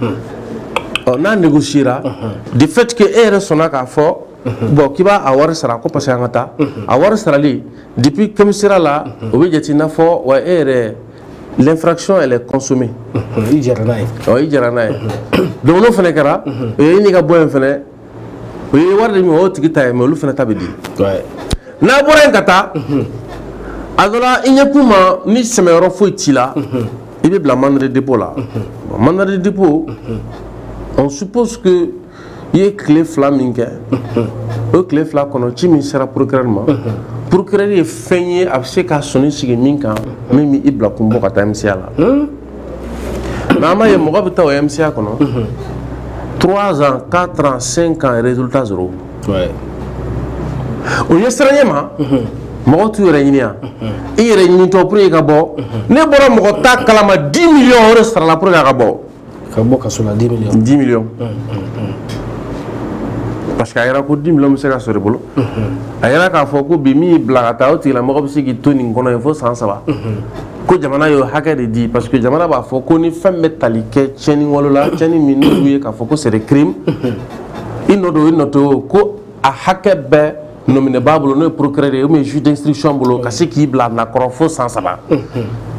ɔ n'a négociera de fait que e yɛrɛ sɔnna k'a fɔ bon k'i bɛ a wari sara ko parce que an ka taa a wari sarali depuis commissariat la o bɛ jate i n'a fɔ wa e yɛrɛ l'infraction elle est consommée i jɛra n'a ye ɔ i jɛra n'a ye donc n'o fana kɛra o yann'i ka bɔ yen fana o ye wari de min o y'o tigi ta ye mais olu fana ta bɛ di n'a bɔra yen ka taa a dɔ la i ɲɛkun ma ni sɛmɛyɔrɔ foyi t'i la i bɛ bila mandat de dépôt la mandat de dépôt on suppose que i ye tile fila min kɛ o tile fila kɔnɔ ci min sera procureur ma procureur ye fɛn ye a bɛ se ka sɔnni sigi min kan min bɛ i bila kun bɔ ka taa MCA la hmm? mais an b'a ye mɔgɔ bɛ taa o MCA kɔnɔ hmm. trois ans quatre ans cinq ans résultat zéro o ɲɛsiranɲɛ ma hmm. mɔgɔ t'u yɛrɛ ɲini yan i yɛrɛ ɲinitɔ pour que i ka bɔ ne bɔra mɔgɔ ta kalama dix millions o de sarala pour que a ka bɔ. ka bɔ kaso la 10 millions 10 millions parce que a yɛrɛ ko 10 millions bɛ se ka sɔrɔ i bolo a yɛrɛ k'a fɔ ko bi min y'i bila ka taa o tigilamɔgɔ bɛ se k'i to nin kɔnɔ yen fo san saba ko jamana y'o hakɛ de di parce que jamana b'a fɔ ko ni fɛn bɛ tali kɛ tiɲɛni wale la tiɲɛni min n'olu ye k'a fɔ ko c'est des crimes i nɔ don i nɔ tɛ o ko a hakɛ bɛ nɔminɛbaa bolo n'o ye procureur ye ou bien juge d'instruction bolo ka se k'i bila a nakɔrɔ fo san saba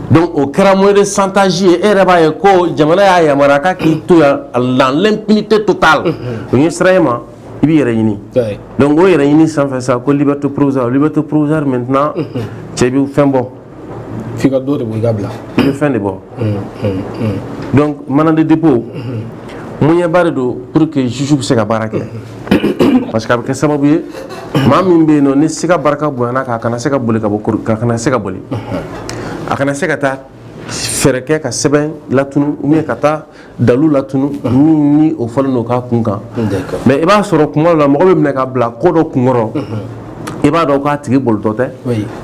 donc o kɛra moyen de chantage ye e yɛrɛ b'a ye ko jamana y'a yamaruya k'a k'i to yan dans l'impunité totale o ɲɛsiranɲɛ ma i b'i yɛrɛ ɲini donc o yɛrɛ ɲini sanfɛ sa ko liberté provisoire liberté provisoire maintenant cɛ bɛ fɛn bɔ f'i ka dɔ de bɔ i ka bila i bɛ fɛn de bɔ donc mandat de dépôt moyen ba de don pour que juge bɛ se ka baara kɛ parce que a bɛ kɛ sababu ye maa min bɛ yen nɔ ni siga barika bonyana k'a kana se ka boli ka bɔ kori ka kana se ka boli a kana se ka taa fɛɛrɛ kɛ ka sɛbɛn latunu ou bien ka taa dalu latunu min ni o fɔlen don k'a kun kan mais i b'a sɔrɔ kuma dɔ la mɔgɔ bɛ minɛ ka bila ko dɔ kunkɔrɔ i b'a dɔn k'a tigi bolitɔ tɛ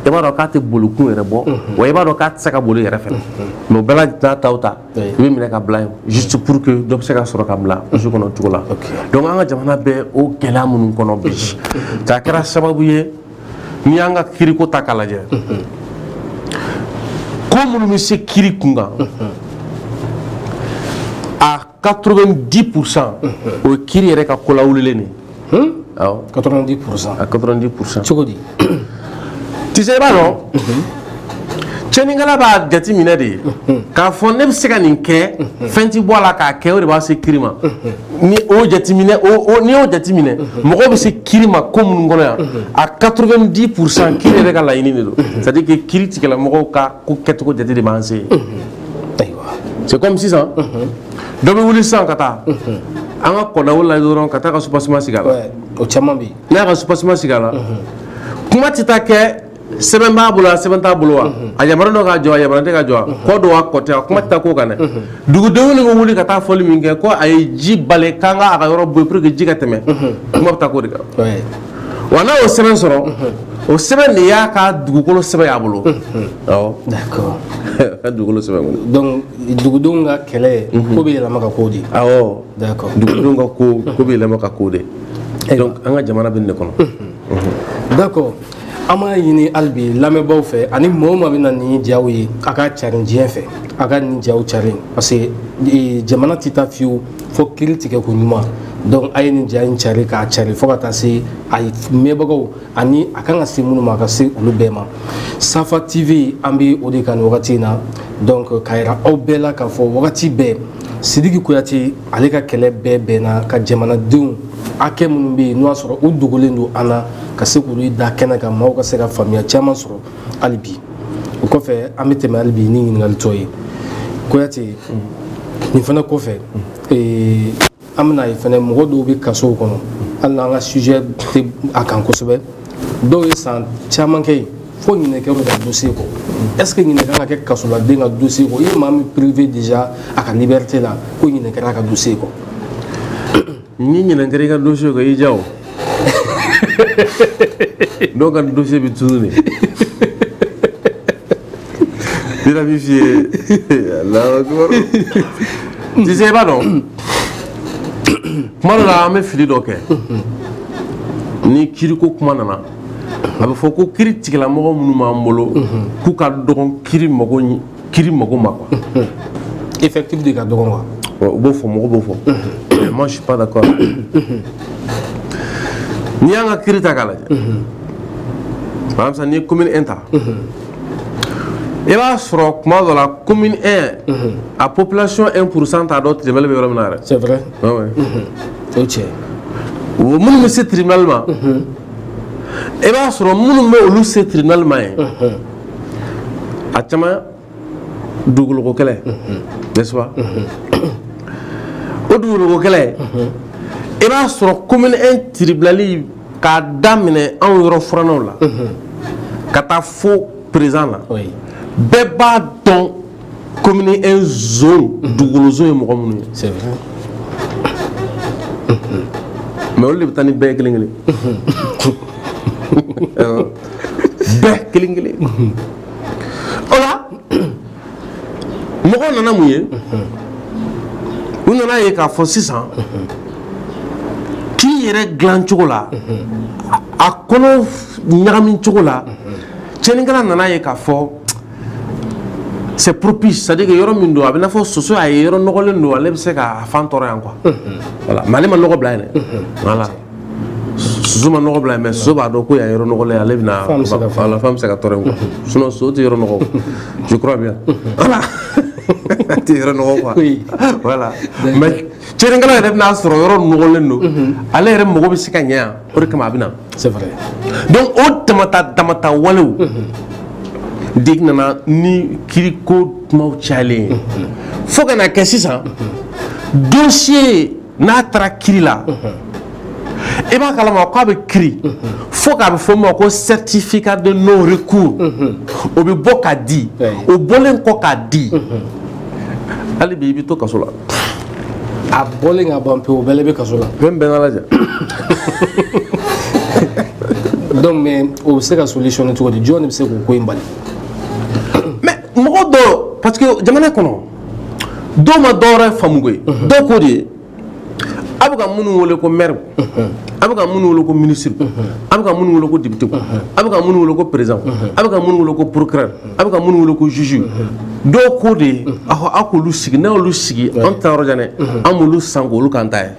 i b'a dɔn k'a tɛ bolikun yɛrɛ bɔ wa i b'a dɔn k'a tɛ se ka boli yɛrɛ fɛnɛ mais o bɛɛ lajɛlen n'a ta o ta i bɛ minɛ ka bila yen juste pour que dɔ bɛ se ka sɔrɔ ka bila u so kɔnɔ cogo la donc an ka jamana bɛ o gɛlɛya minnu kɔnɔ bi k'a kɛra sababu ye n'i y'an ka kiriko ta k'a lajɛ ko minnu bɛ se kiri kun kan a 90 pourcent o ye kiri yɛrɛ ka kolawulilen de ye awɔ 90 pourcent a 90 pourcent cogo di tu sais i b'a dɔn tiɲɛnikɛla b'a jate minɛ de ye k'a fɔ ne bɛ se ka nin kɛ fɛn tɛ bɔ a la k'a kɛ o de b'a se kiri ma ni o jateminɛ n'i y'o jateminɛ mɔgɔw bɛ se kiri ma ko minnu kɔnɔ yan a 90 pour cent kiri yɛrɛ ka laɲini de don c'est à dire que kiritigɛla mɔgɔw ka ko kɛcogo jate de b'an se c'est comme sisan dɔ bɛ wuli sisan ka taa an ka kɔdaw la dɔrɔn ka taa ka soubassement sigi a la o caman bɛ yen n'a ka soubassement sigi a la kuma tɛ taa kɛ sɛbɛn b'a bolo a sɛbɛn t'a bolo wa mhm. a yamaruya don k'a jɔ a yamaruya tɛ k'a jɔ a mhm. kɔ don a kɔ tɛ a kuma tɛ taa k'o kan dɛ mhm. dugudenw de bɛ wuli ka taa fɔli min kɛ ko a ye ji bali k'an ka a ka yɔrɔ bɔ pour que ji ka tɛmɛ kuma bɛ taa k'o de kan wa n'a y'o sɛbɛn sɔrɔ o sɛbɛn de y'a ka dugukolo sɛbɛn y'a bolo awɔ ka dugukolo sɛbɛn kɔnɔ donc dugudenw ka kɛlɛ ko bɛ yɛlɛma ka k'o de ye awɔ dugudenw ka ko ko bɛ yɛlɛma ka k'o de ye donc an ka jamana bɛ nin de kɔnɔ d'accord an b'a ɲini hali bi lamɛnbaaw fɛ ani maa o maa bɛna nin ja ye a k'a carin diɲɛ fɛ a ka nin ja carin parce que e, jamana tɛ taa fiyewu fo kiri tigɛ ko ɲuman donc a ye nin ja in cari k'a cari fo ka taa se a mɛnbagaw ani a kan ka se minnu ma a ka se olu bɛɛ ma safa tv an bɛ o de kan nin wagati in na donc k'a yira aw bɛɛ la k'a fɔ wagati bɛɛ sidiki kuyate ale ka kɛlɛ bɛɛ bɛnna ka jamanadenw hakɛ minnu bɛ yen n'o y'a sɔrɔ u dogolen don an na ka se k'olu da kɛnɛ kan maaw ka se ka faamuya caman sɔrɔ hali bi o kɔfɛ an bɛ tɛmɛ hali bi ni ɲininkali tɔ ye kuyate nin fana kɔfɛ ee, an bɛna a ye fana mɔgɔ dɔw bɛ kasow kɔnɔ hali n'an ka sujet tɛ a kan kosɛbɛ dɔw ye san caman kɛ yen fo ɲinɛ kɛ mɔgɔ ka dossier kɔ est ce que ɲinɛ kan ka kɛ kasoladen ka dossier kɔ i ye maa min privé déjà a ka liberté la ko ɲinɛ kɛra a ka dossier kɔ ni ɲinɛ kɛra i ka dossier kɔ i ja o dɔw ka dossier bɛ tunun dɛ bira b'i f'i ye alahu akibaru ti se i b'a dɔn kuma dɔ la an bɛ fili dɔ kɛ ni kiiriko kuma nana a bɛ fɔ ko kiri tigɛla mɔgɔ minnu b'an bolo k'u ka dɔgɔn kiri mago kiri mago ma quoi effectif de ka dɔgɔn quoi u b'o fɔ mɔgɔw b'o fɔ moi je suis pas d'accord n'i y'an ka kiri ta k'a lajɛ par exemple n'i ye commune 1 ta i b'a sɔrɔ kuma dɔ la commune 1 a population 1 pourcent t'a dɔn tribunal bɛ yɔrɔ min na yɛrɛ c'est vrai Ah o cɛ minnu bɛ se tribunal ma i b'a sɔrɔ minnu bɛ olu se tribunal ma ye a caman dugukolo kɛlɛ n'est-ce pas o dugukolo kɛlɛ i b'a sɔrɔ commune 1 tribunal k'a daminɛ anw yɔrɔ fanw la ka taa fo perezan na bɛɛ b'a dɔn kɔmini e dugukoloso ye mɔgɔ minnu ye mais olu de bɛ taa ni bɛɛ kelen kelen bɛɛ kelen kelen o la mɔgɔw nana mun ye u nana a ye k'a fɔ sisan kiri yɛrɛ dilan cogo la a kolo ɲagami cogo la cɛnnikɛla nana ye k'a fɔ c'est propice c'est à dire que yɔrɔ min don a bɛ i n'a fɔ soso a ye yɔrɔ nɔgɔlen don ale bɛ se k'a fan tɔrɔ yan quoi voilà mais ale ma nɔgɔ bila yen dɛ voilà soso ma nɔgɔ bila yen mais soso b'a dɔn ko yan yɔrɔ nɔgɔlen ale bɛ na a fan bɛ se ka tɔrɔ yen quoi sinon soso tɛ yɔrɔ nɔgɔ je crois bien voilà a tɛ yɔrɔ nɔgɔ quoi voilà mais cɛnnikɛla yɛrɛ bɛna a sɔrɔ yɔrɔ nɔgɔlen don mhm. ale yɛrɛ mago bɛ se ka ɲɛ yan o de kama a bɛ na donc o damata damata walew mhm. de nana ni kiriko kumaw cayalen ye mhm. fo ka na kɛ sisan dosiye n'a taara kiri la. i b'a kalama k'a bɛ kiri fo k'a bɛ fɔ o ma ko certificat de non recours o bɛ bɔ ka di o bɔlen kɔ k'a di hali bi i bɛ to kaso la a bɔlen ka ban pewu o bɛɛ la i bɛ kaso la fɛn bɛɛ lajɛ donc mais o bɛ se ka solution cogo di jɔn de bɛ se k'o ko in bali mais mɔgɔ dɔw parce que jamana kɔnɔ dɔw ma dɔw wɛrɛ faamu koyi dɔw ko de ye aw bɛ ka minnu wele ko mɛriw aw bɛ ka minnu wele ko minisiriw aw bɛ ka minnu wele ko depitew aw bɛ ka minnu wele ko perezanw aw bɛ ka minnu wele ko porokirɛri aw bɛ ka minnu wele ko zuzuw dɔw ko de ye aw aw k'olu sigi n'aw y'olu sigi an ta yɔrɔ jan dɛ an b'olu san k'olu k'an ta ye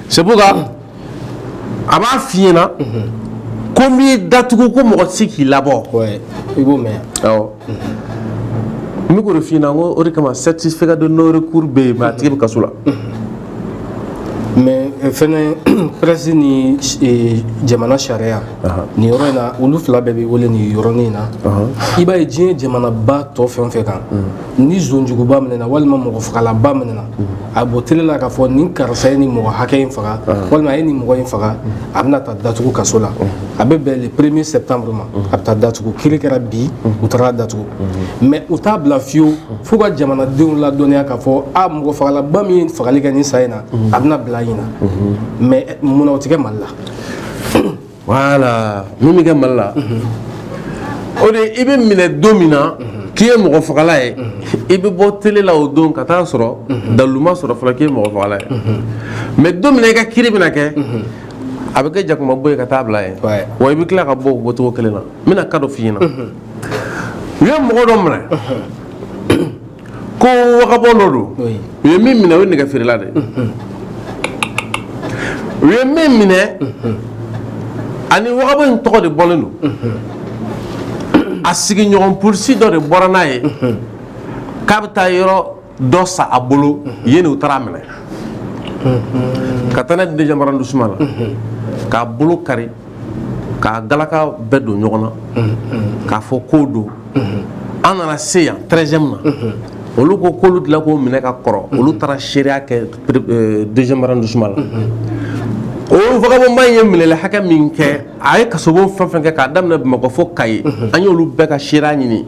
sebuga a b'a f'i ɲɛ na ko n b'i datugu ko mɔgɔ si t'i labɔ i b'o mɛn n bɛ fi ko o de kama certificat de non recours bɛ yen a tigi bɛ kaso la mais eh, fɛn pɛresi ni eh, jamana sariya nin yɔrɔ in na olu fila bɛɛ bɛ wele nin yɔrɔnin in na i b'a ye diɲɛ jamanaba tɔw fan fɛ kan ni zon juguba minɛna walima mɔgɔ fagalaba minɛna a bɛ bɔ tele la k'a fɔ nin karisa ye nin mɔgɔ hakɛ in faga walima a ye nin mɔgɔ in faga a bɛna taa datugu kaso la a bɛ bɛn le premier septembre ma a bɛ taa datugu kiri kɛra bi u taara a datugu mais u t'a bila fiyewu f'u ka jamanadenw ladɔnniya k'a fɔ a mɔgɔ fagalaba min ye fagali kɛ nin san in na a bɛna bila ɲinan mais munna o tɛ kɛ mali la wale min bɛ kɛ mali la o de i bɛ minɛ don min na k'i ye mɔgɔ fagala ye i bɛ bɔ tele la o don ka taa sɔrɔ dalilu ma sɔrɔ fɔlɔ k'i ye mɔgɔ fagala ye mais don min i ka kiri bɛna kɛ a bɛ kɛ jakuma bo ye ka taa bila yen wa i bɛ tila ka bɔ o bɔcogo kelen na n bɛna ka dɔ f'i ɲɛna u ye mɔgɔ dɔ minɛ ko vagabond dɔ don u ye min minɛ o ye nɛgɛ feerela de u ye min minɛ ani vagabond in tɔgɔ de bɔlen don a sigiɲɔgɔn polisi dɔ de bɔra n'a ye k'a bɛ taa yɔrɔ dɔ san a bolo yen de u taara a minɛ ka taa n'a ye deuxième arrondissement la k'a bolo kari k'a galaka bɛɛ don ɲɔgɔn na k'a fɔ k'o don an nana se yan treizième na olu ko k'olu delila k'o minɛ ka kɔrɔ olu taara seereya kɛ euh, deuxième arrondissement la o vagabondba in ye minɛli hakɛ min kɛ a ye kasobon fɛn o fɛn kɛ k'a daminɛ bamakɔ fo kayi an y'olu bɛɛ ka seereya ɲini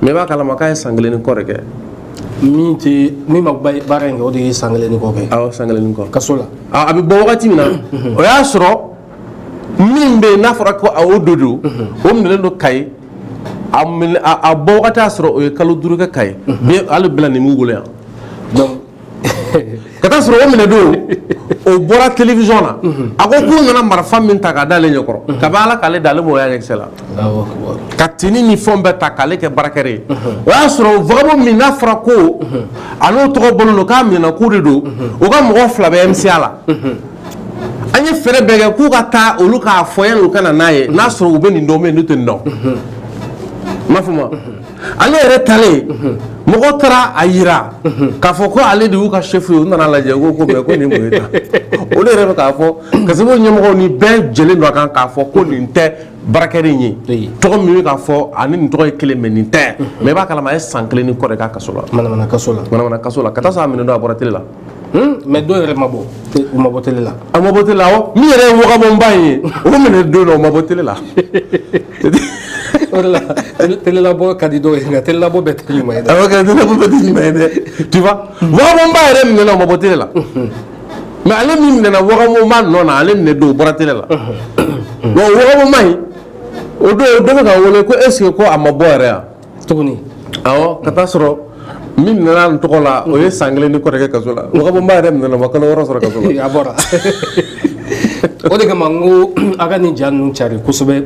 mais i b'a kalama k'a ye san kelen ni kɔ de kɛ min tɛ min ma baara in kɛ o de ye san kelen ni kɔ kɛ awɔ san kelen ni kɔ kaso la a bɛ bɔ wagati min na o y'a sɔrɔ min bɛ n'a fɔra ko a o de don o minɛlen don kayi a minɛ a bɔ wagati y'a sɔrɔ o ye kalo duuru kɛ kayi bi hali bi la nin b'u bolo yan ka taa sɔrɔ o minɛ don o bɔra télévision na a ko k'u nana marifa min ta k'a d'ale ɲɛ kɔrɔ kabi ala k'ale da ale m'o y'a ɲɛkisɛ la ka tini ni fɛnw bɛɛ ta k'ale kɛ braqueur ye o y'a sɔrɔ vagabond min n'a fɔra ko ale tɔgɔ bɔlen don k'a minɛna k'o de don o ka mɔgɔ fila bɛ MCA la. an ye fɛɛrɛ bɛɛ kɛ k'u ka taa olu k'a fɔ yan u ka na n'a ye n'a sɔrɔ u bɛ nin dɔn bɛ n'u tɛ nin dɔn ma fɔ ma ale yɛrɛ talen mɔgɔ taara a yira k'a fɔ ko ale de y'u ka sefu ye u nana lajɛ ko ko ko nin mun ye ta o de yɛrɛ bɛ k'a fɔ kasobon ɲɛmɔgɔ ni bɛɛ jɛlen don a kan k'a fɔ ko nin tɛ braqueur in ye tɔgɔ min bɛ k'a fɔ ani nin tɔgɔ ye kelen mais nin tɛ mais i b'a kalama a ye san kelen ni kɔ de kɛ kaso la manamana kaso la manamana kaso la ka taa sɔrɔ a minɛ don a bɔra tele la Hmm? mais dɔw yɛrɛ ma bɔ u ma bɔ tele la a ma bɔ tele la awɔ min yɛrɛ ye vagabondba in ye o minɛ don dɔ o ma bɔ tele la o de la telelabɔ ka di dɔw ye nka telelabɔ bɛɛ tɛ ɲuman ye dɛ awɔ kɛ telelabɔ bɛɛ tɛ ɲuman ye dɛ tu vois vagabondba yɛrɛ minɛna o ma bɔ tele la mais ale min minɛna vagabondba nɔ na ale minɛ don o bɔra tele la wa vagabondba in o don dɔ bɛ ka wele ko est ce que ko a ma bɔ yɛrɛ yan tuguni awɔ ka t'a sɔrɔ min minɛna n tɔgɔ la o ye san kelen ni kɔ de kɛ kaso la wagabɔnba yɛrɛ minɛna ma kalo wɔɔrɔ sɔrɔ kaso la a bɔra o de kama n ko a ka nin ja ninnu cari kosɛbɛ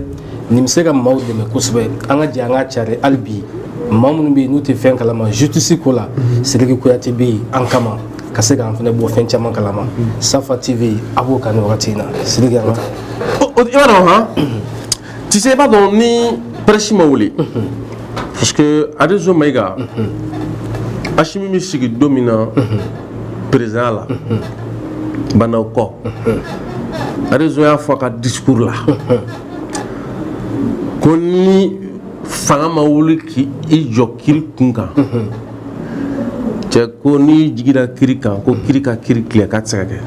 nin bɛ se ka maaw dɛmɛ kosɛbɛ an ka jɛ an k'a cari hali bi maa minnu bɛ yen n'u tɛ fɛn kalama justice ko la sidiki kuyate bɛ yen an kama ka se k'an fana bɔ fɛn caman kalama safa tv a b'o kan nin wagati in na sidiki an ka taa i b'a dɔn han tɛ se i b'a dɔn ni prɛsi ma wuli parce que arizo mayiga asimi bɛ sigi don min na perezidan ba ndaw kɔ arizo y'a fɔ a ka discours la ko ni fanga ma wuli k'i jɔ kiri kun kan cɛ ko n'i jigira kiri kan ko kiri ka kiri tilen k'a tɛ se ka kɛ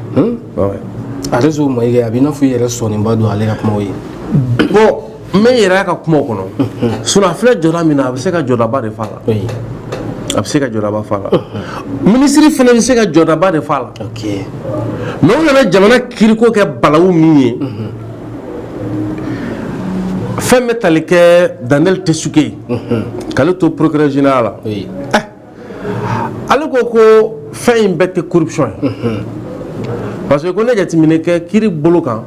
arizo mayiga a b'i n'a fɔ i yɛrɛ sɔnniba don ale ka kumaw ye bɔn mɛ yɛrɛ a ka kumaw kɔnɔ sinɔn a filɛ jɔda min na a bɛ se ka jɔdaba de fa la a bɛ se ka jɔdaba fa la minisiri fana bɛ se ka jɔdaba de fa la mɛ u nana jamana kiriko kɛ balawu min ye fɛn bɛ tali kɛ daniel tessougué k'ale to procureur général la ale ko ko fɛn in bɛɛ tɛ corruption ye parce que ko n'i ye jateminɛ kɛ kiri bolo kan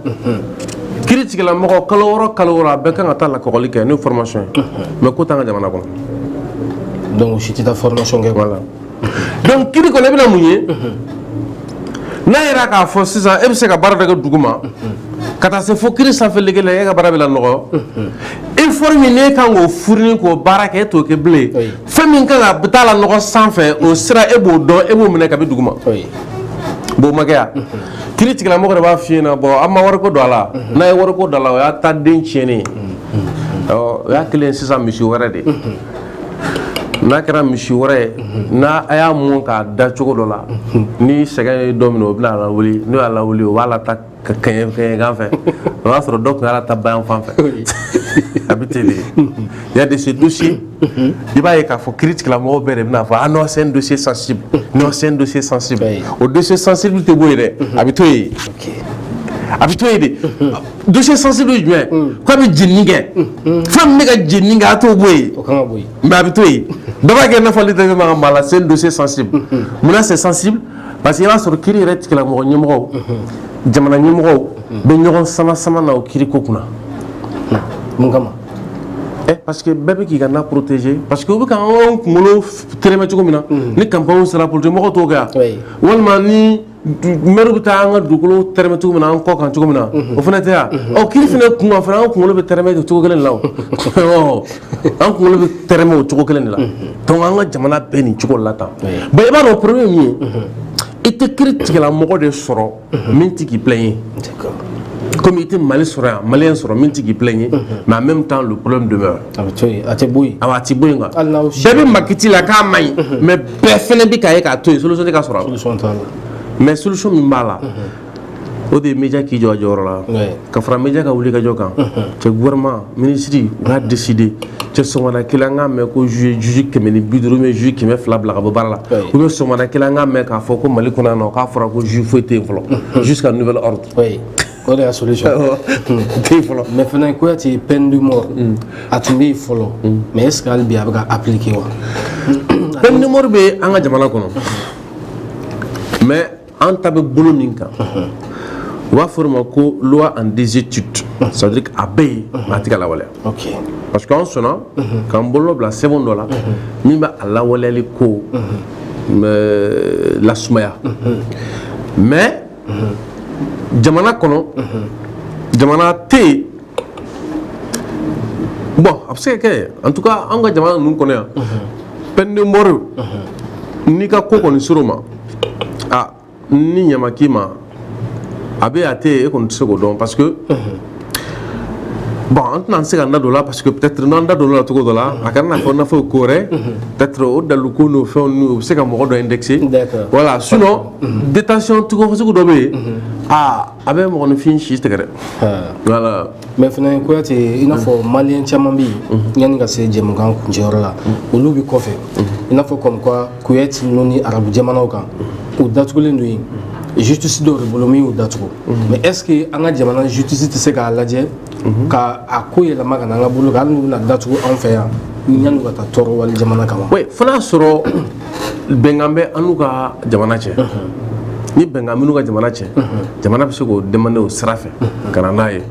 kiri tigilamɔgɔ kalo wɔɔrɔ kalo wɔɔrɔ a bɛɛ kan ka taa lakɔgɔli kɛ n'o formation ye mais k'o t'an ka jamana kɔnɔ donc si tɛ taa formation kɛ voilà donc kiri kɔnɔ i bɛna mun ye n'a yira k'a fɔ sisan e bɛ se ka baara dɔ kɛ dugu ma ka taa se fo kiri sanfɛ lege la e ka baara bɛ lanɔgɔ informe n'e kan k'o furuni k'o baara kɛ e t'o kɛ bilen fɛn min kan ka taa la nɔgɔ sanfɛ o sira e b'o dɔn e b'o minɛ kabi duguma b'o makɛ yan kiri tigilamɔgɔ de b'a f'i ɲɛna bɔn an ma wariko don a la n'a ye wariko don a la o y'a ta den tiɲɛnen o y'a kelen sisan misi wɛrɛ de n'a kɛra misi wɛrɛ ye n'a a y'a mun k'a da cogo dɔ la ni sɛgɛn ye dɔ minɛ o bɛna a lawuli n'o y'a lawuli o b'a lada ka kɛɲɛ kɛɲɛka fɛ o y'a sɔrɔ dɔ tun y'a lada bayanfan fɛ a bɛ ten de il y a de ces dossiers i b'a ye k'a fɔ kiri tigilamɔgɔw bɛɛ de bɛna fɔ ah non c'est un dossier sensible non c'est un dossier sensible o dossier sensible tɛ bɔ yen dɛ a bɛ to yen a bɛ to yen de dossier sensible ye jumɛn ko a bɛ jenini kɛ fɛn min bɛ ka jenini kɛ a t'o bɔ yen mais a bɛ to yen dɔ b'a kɛ i n'a fɔ ale t'a fɛ maa ka maga a la c'est un dossier sensible munna c'est sensible parce que i b'a sɔrɔ kiri yɛrɛ tigilamɔgɔ ɲɛmɔgɔw jamana ɲɛmɔgɔw bɛ ɲɔgɔn sama sama na o kiri ko kunna mun kama eh, parce que bɛɛ bɛ k'i ka na protéger parce que u bɛ ka anw kunkolo tɛrɛmɛ cogo min na ni campagne sera politique mɔgɔw t'o kɛ yan walima ni mɛri bɛ taa an ka dugukolo tɛrɛmɛ cogo min na an kɔ kan cogo min na o fana tɛ yan ɔ kiri fana kun kan fana an kunkolo bɛ tɛrɛmɛ cogo kelen la o an kunkolo bɛ tɛrɛmɛ o cogo kelen de la donc an ka jamana bɛ nin cogo la tan bon i b'a dɔn problème min ye i tɛ kiri tigɛla mɔgɔ de sɔrɔ min tɛ k'i plain ye comme i tɛ mali sɔrɔ yan maliyɛn sɔrɔ min tɛ k'i plain ye mais en même temps le problème demeure a bɛ to yen a tɛ bɔ yen awa a tɛ bɔ yen quoi Hali n'aw si- bɛɛ bɛ makiti la k'a man ɲi mais bɛɛ fana bɛ k'a ye k'a to yen solution tɛ ka sɔrɔ a la solution t'a la mais solution min b'a la o de ye média k'i jɔ a jɔyɔrɔ la ka fara média ka wuli ka jɔ k'an tɛ gouvernement minisiri u k'a décider ten sɔgɔmada kelen an k'a mɛn ko juge juge kɛmɛ ni bi duuru juge kɛmɛ fila bila ka bɔ baara la ou bien sɔgɔmada kelen an k'a mɛn k'a fɔ ko mali kɔnɔ yan nɔ k'a fɔra ko juge foyi tɛ yen fɔlɔ jusqu'à nouvel ordre o de y'a solution tɛ yen fɔlɔ mais fana kuyate peine de mort a tun bɛ yen fɔlɔ mais est ce que hali bi a bɛ ka appliquer wa peine de mort bɛ an ka jamana kɔnɔ mais an ta bɛ bolo min kan u b'a fɔ o ma ko loi en désuétude ça veut dire que a bɛ yen mais a tɛ ka lawaleya parce que an sɔnna k'an bolo bila sɛbɛn dɔ la min bɛ a lawaleyali ko lasumaya mais jamana kɔnɔ jamana tɛ yen bon a bɛ se ka kɛ en tout cas an ka jamana ninnu kɔnɔ yan peine de mort n'i ka ko kɔni sɔrɔ ma a ni ɲama k'i ma a bɛ a tɛ yen e kɔni tɛ se k'o dɔn parce que bon an tɛna se ka n da don o la parce que peut être n'an da don o la cogo dɔ la a kana n'a fɔ n'a fɔ ko wɛrɛ peut être o daliluko n'o fɛnw n'u bɛ se ka mɔgɔ dɔ indexer D'accord. voilà sinon détention cogo sugu dɔ bɛ yen aa a bɛ mɔgɔninfin si tigɛ dɛ voilà mais fana kuyate i n'a fɔ maliyɛn caman bɛ yen yanni ka se jɛmukan kuncɛyɔrɔ la olu bɛ kɔfɛ i n'a fɔ comme quoi Koweït ninnu ni arabu jamanaw kan u datugulen don yen justice dɔw de bolo min y'u datugu mais est ce que an ka jamana justice tɛ se k'a lajɛ ka a ko yɛlɛma ka na an ka bolo kan hali n'u bɛna datugu anw fɛ yan yanni u ka taa tɔɔrɔ wali jamana kan wa oui fo n'a sɔrɔ bɛnkan bɛ an n'u ka jamana cɛ ni bɛnkan b'i n'u ka jamana cɛ jamana bɛ se k'o demander o sira fɛ ka na n'a ye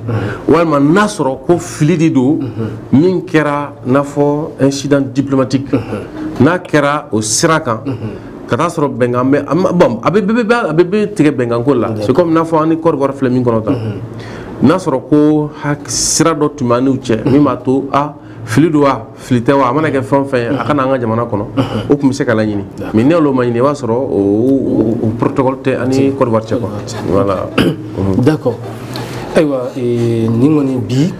walima n'a sɔrɔ ko fili de don min kɛra n'a fɔ incident diplomatique n'a kɛra o sira kan ka taa sɔrɔ bɛnkan bɛ a ma- bon, a bɛ bɛ- bɛ- a bɛɛ bɛ tigɛ bɛnkan ko la c'est comme n'a fɔ an ni Côte d'Ivoire filɛ min kɔnɔ tan n'a sɔrɔ ko hak- sira dɔ tun b'an n'u cɛ min b'a to a fili don wa fili tɛ wa a mana kɛ fɛn fɛn ye a ka na an ka jamana kɔnɔ o tun bɛ se ka laɲini mais n'i y'a ye o ma ɲini i b'a sɔrɔ o protocole tɛ an ni Côte d'Ivoire cɛ quoi voilà d'accord ayiwa eh, nin kɔni bi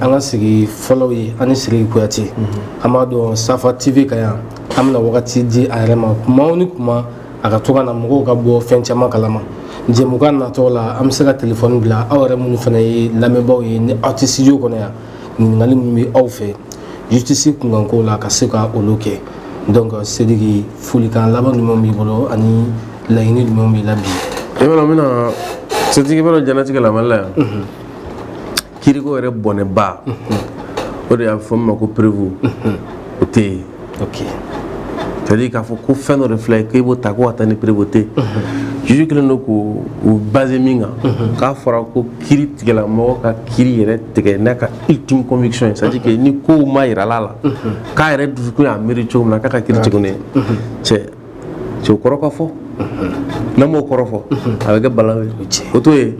an ka sigi fɔlɔw ye an ni Sidiki Kuyate mhm. an b'a dɔn Safa TV kan yan an bɛna wagati di a yɛrɛ ma kuma o ni kuma a ka to ka na mɔgɔw ka bɔ fɛn caman kalama jɛmukan natɔ la an bɛ se ka telefɔni bila aw yɛrɛ minnu fana ye lamɛnbaaw ye ni aw tɛ studio kɔnɔ yan ɲininkali minnu bɛ aw fɛ justice kunkanko la ka se ka olu kɛ donc sidiki folikan laban jumɛn b'i bolo ani laɲini jumɛn b'i la bi e bɛna bɛna sidiki bɛna diɲɛlatigɛ la mali la yan mhm. kiriko yɛrɛ bɔnɛba mhm. o de y'a fɔ min ma ko prévôté ye ok c'est à dire k'a fɔ ko fɛn dɔ de filɛ ye k'e b'o ta ko ka taa ni prévôté juge kelen don k'o o base min kan k'a fɔra ko kiritigɛla mɔgɔ ka kiri yɛrɛ tigɛ n'a ka ultime conviction ye c'est à dire que ni kow mayirala a la k'a yɛrɛ dusukun y'a miiri cogo min na k'a ka kiri tigɛ ne ye cɛ cɛ o kɔrɔ ka fɔ n'an m'o kɔrɔ fɔ a bɛ kɛ baara ye o to yen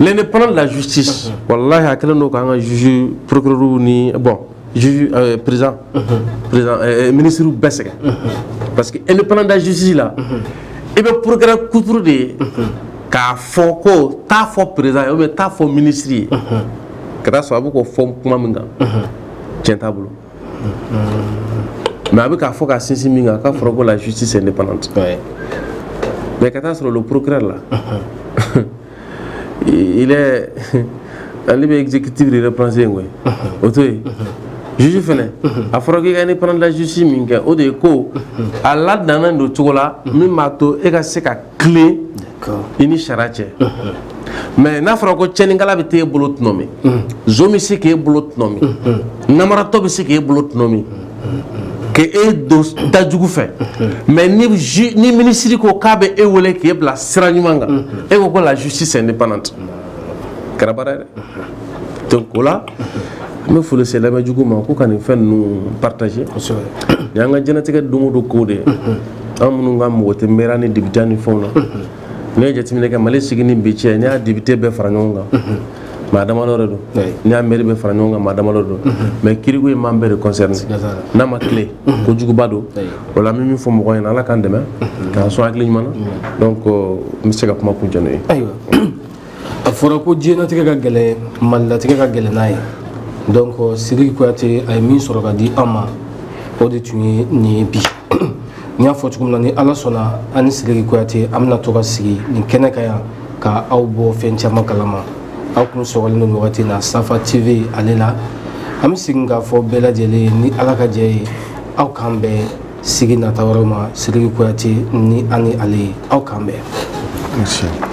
l'indépendance de la justice walahi a kɛlen don k'an ka juge procureur ni bon juge euh, président mhm. président euh, euh, ministre bɛɛ sɛgɛn mhm. parce que indépendance de la justice la mhm. i bɛ procureur kuturu de ye k'a fɔ ko taa a fɔ président ye ou bien taa a fɔ ministre ye ka taa sɔrɔ a bɛ k'o fɔ kuma min kan tiɲɛ t'a bolo mais a bɛ k'a fɔ k'a sinsin min kan k'a fɔra ko la justice indépendante mais ka taa sɔrɔ le procureur la il est ale bɛ exécutif de représenter koyi o to yen juge fɛnɛ a fɔra k'i ka indépendance la justice min kɛ o de ye ko a ladannen don cogo la min b'a to e ka se ka tilen i ni sariya cɛ mais n'a fɔra ko cɛnikɛla bɛ t'e bolo tɔnɔmi zon bɛ se k'e bolo tɔnɔmi namaratɔ bɛ se k'e bolo tɔnɔmi k' e don da jugu fɛ mais ni minisiri ko k'a bɛ e weele k'e bila sira ɲuman kan e ko ko la justice indépendante kɛra baara ye dɛ donc o la n bɛ foli se lamɛnjɛkulu ma ko ka nin fɛn ninnu partager nin y'an ka diɲɛlatigɛ don go don ko de ye an minnu ka mɔgɔ tɛ maire ni députéya ni fɛnw na n'i ye jateminɛ kɛ mali sigi ni bi cɛ n'i y'a député bɛɛ fara ɲɔgɔn kan maa damadɔ de don n'i y'a maire bɛɛ fara ɲɔgɔn kan maa damadɔ don mais kiriko ye maa bɛɛ de concerner n'a ma tilen ko juguba don o la n bɛ min fɔ mɔgɔ ɲɛna ala k'an dɛmɛ k'an sɔn hakili ɲuman na donc n bɛ se ka kuma kuncɛ n'o ye ayiwa a fɔra ko diɲɛlatigɛ ka gɛlɛn malilatigɛ ka gɛlɛn n'a ye donc sidiki kuyate a ye min sɔrɔ ka di an ma o de tun ye nin ye bi n y'a fɔ cogo min na ni ala sɔnna an ni sidiki kuyate an bɛna to ka sigi nin kɛnɛ kan yan ka aw bɔ fɛn caman kalama aw kun sɔgɔlen don wagati na safa tv ale la an bɛ segin k'a fɔ bɛɛ lajɛlen ye ni ala ka jɛn ye aw k'an bɛn sigi nata wɛrɛw ma sidiki kuyate ni an ni ale ye aw k'an bɛn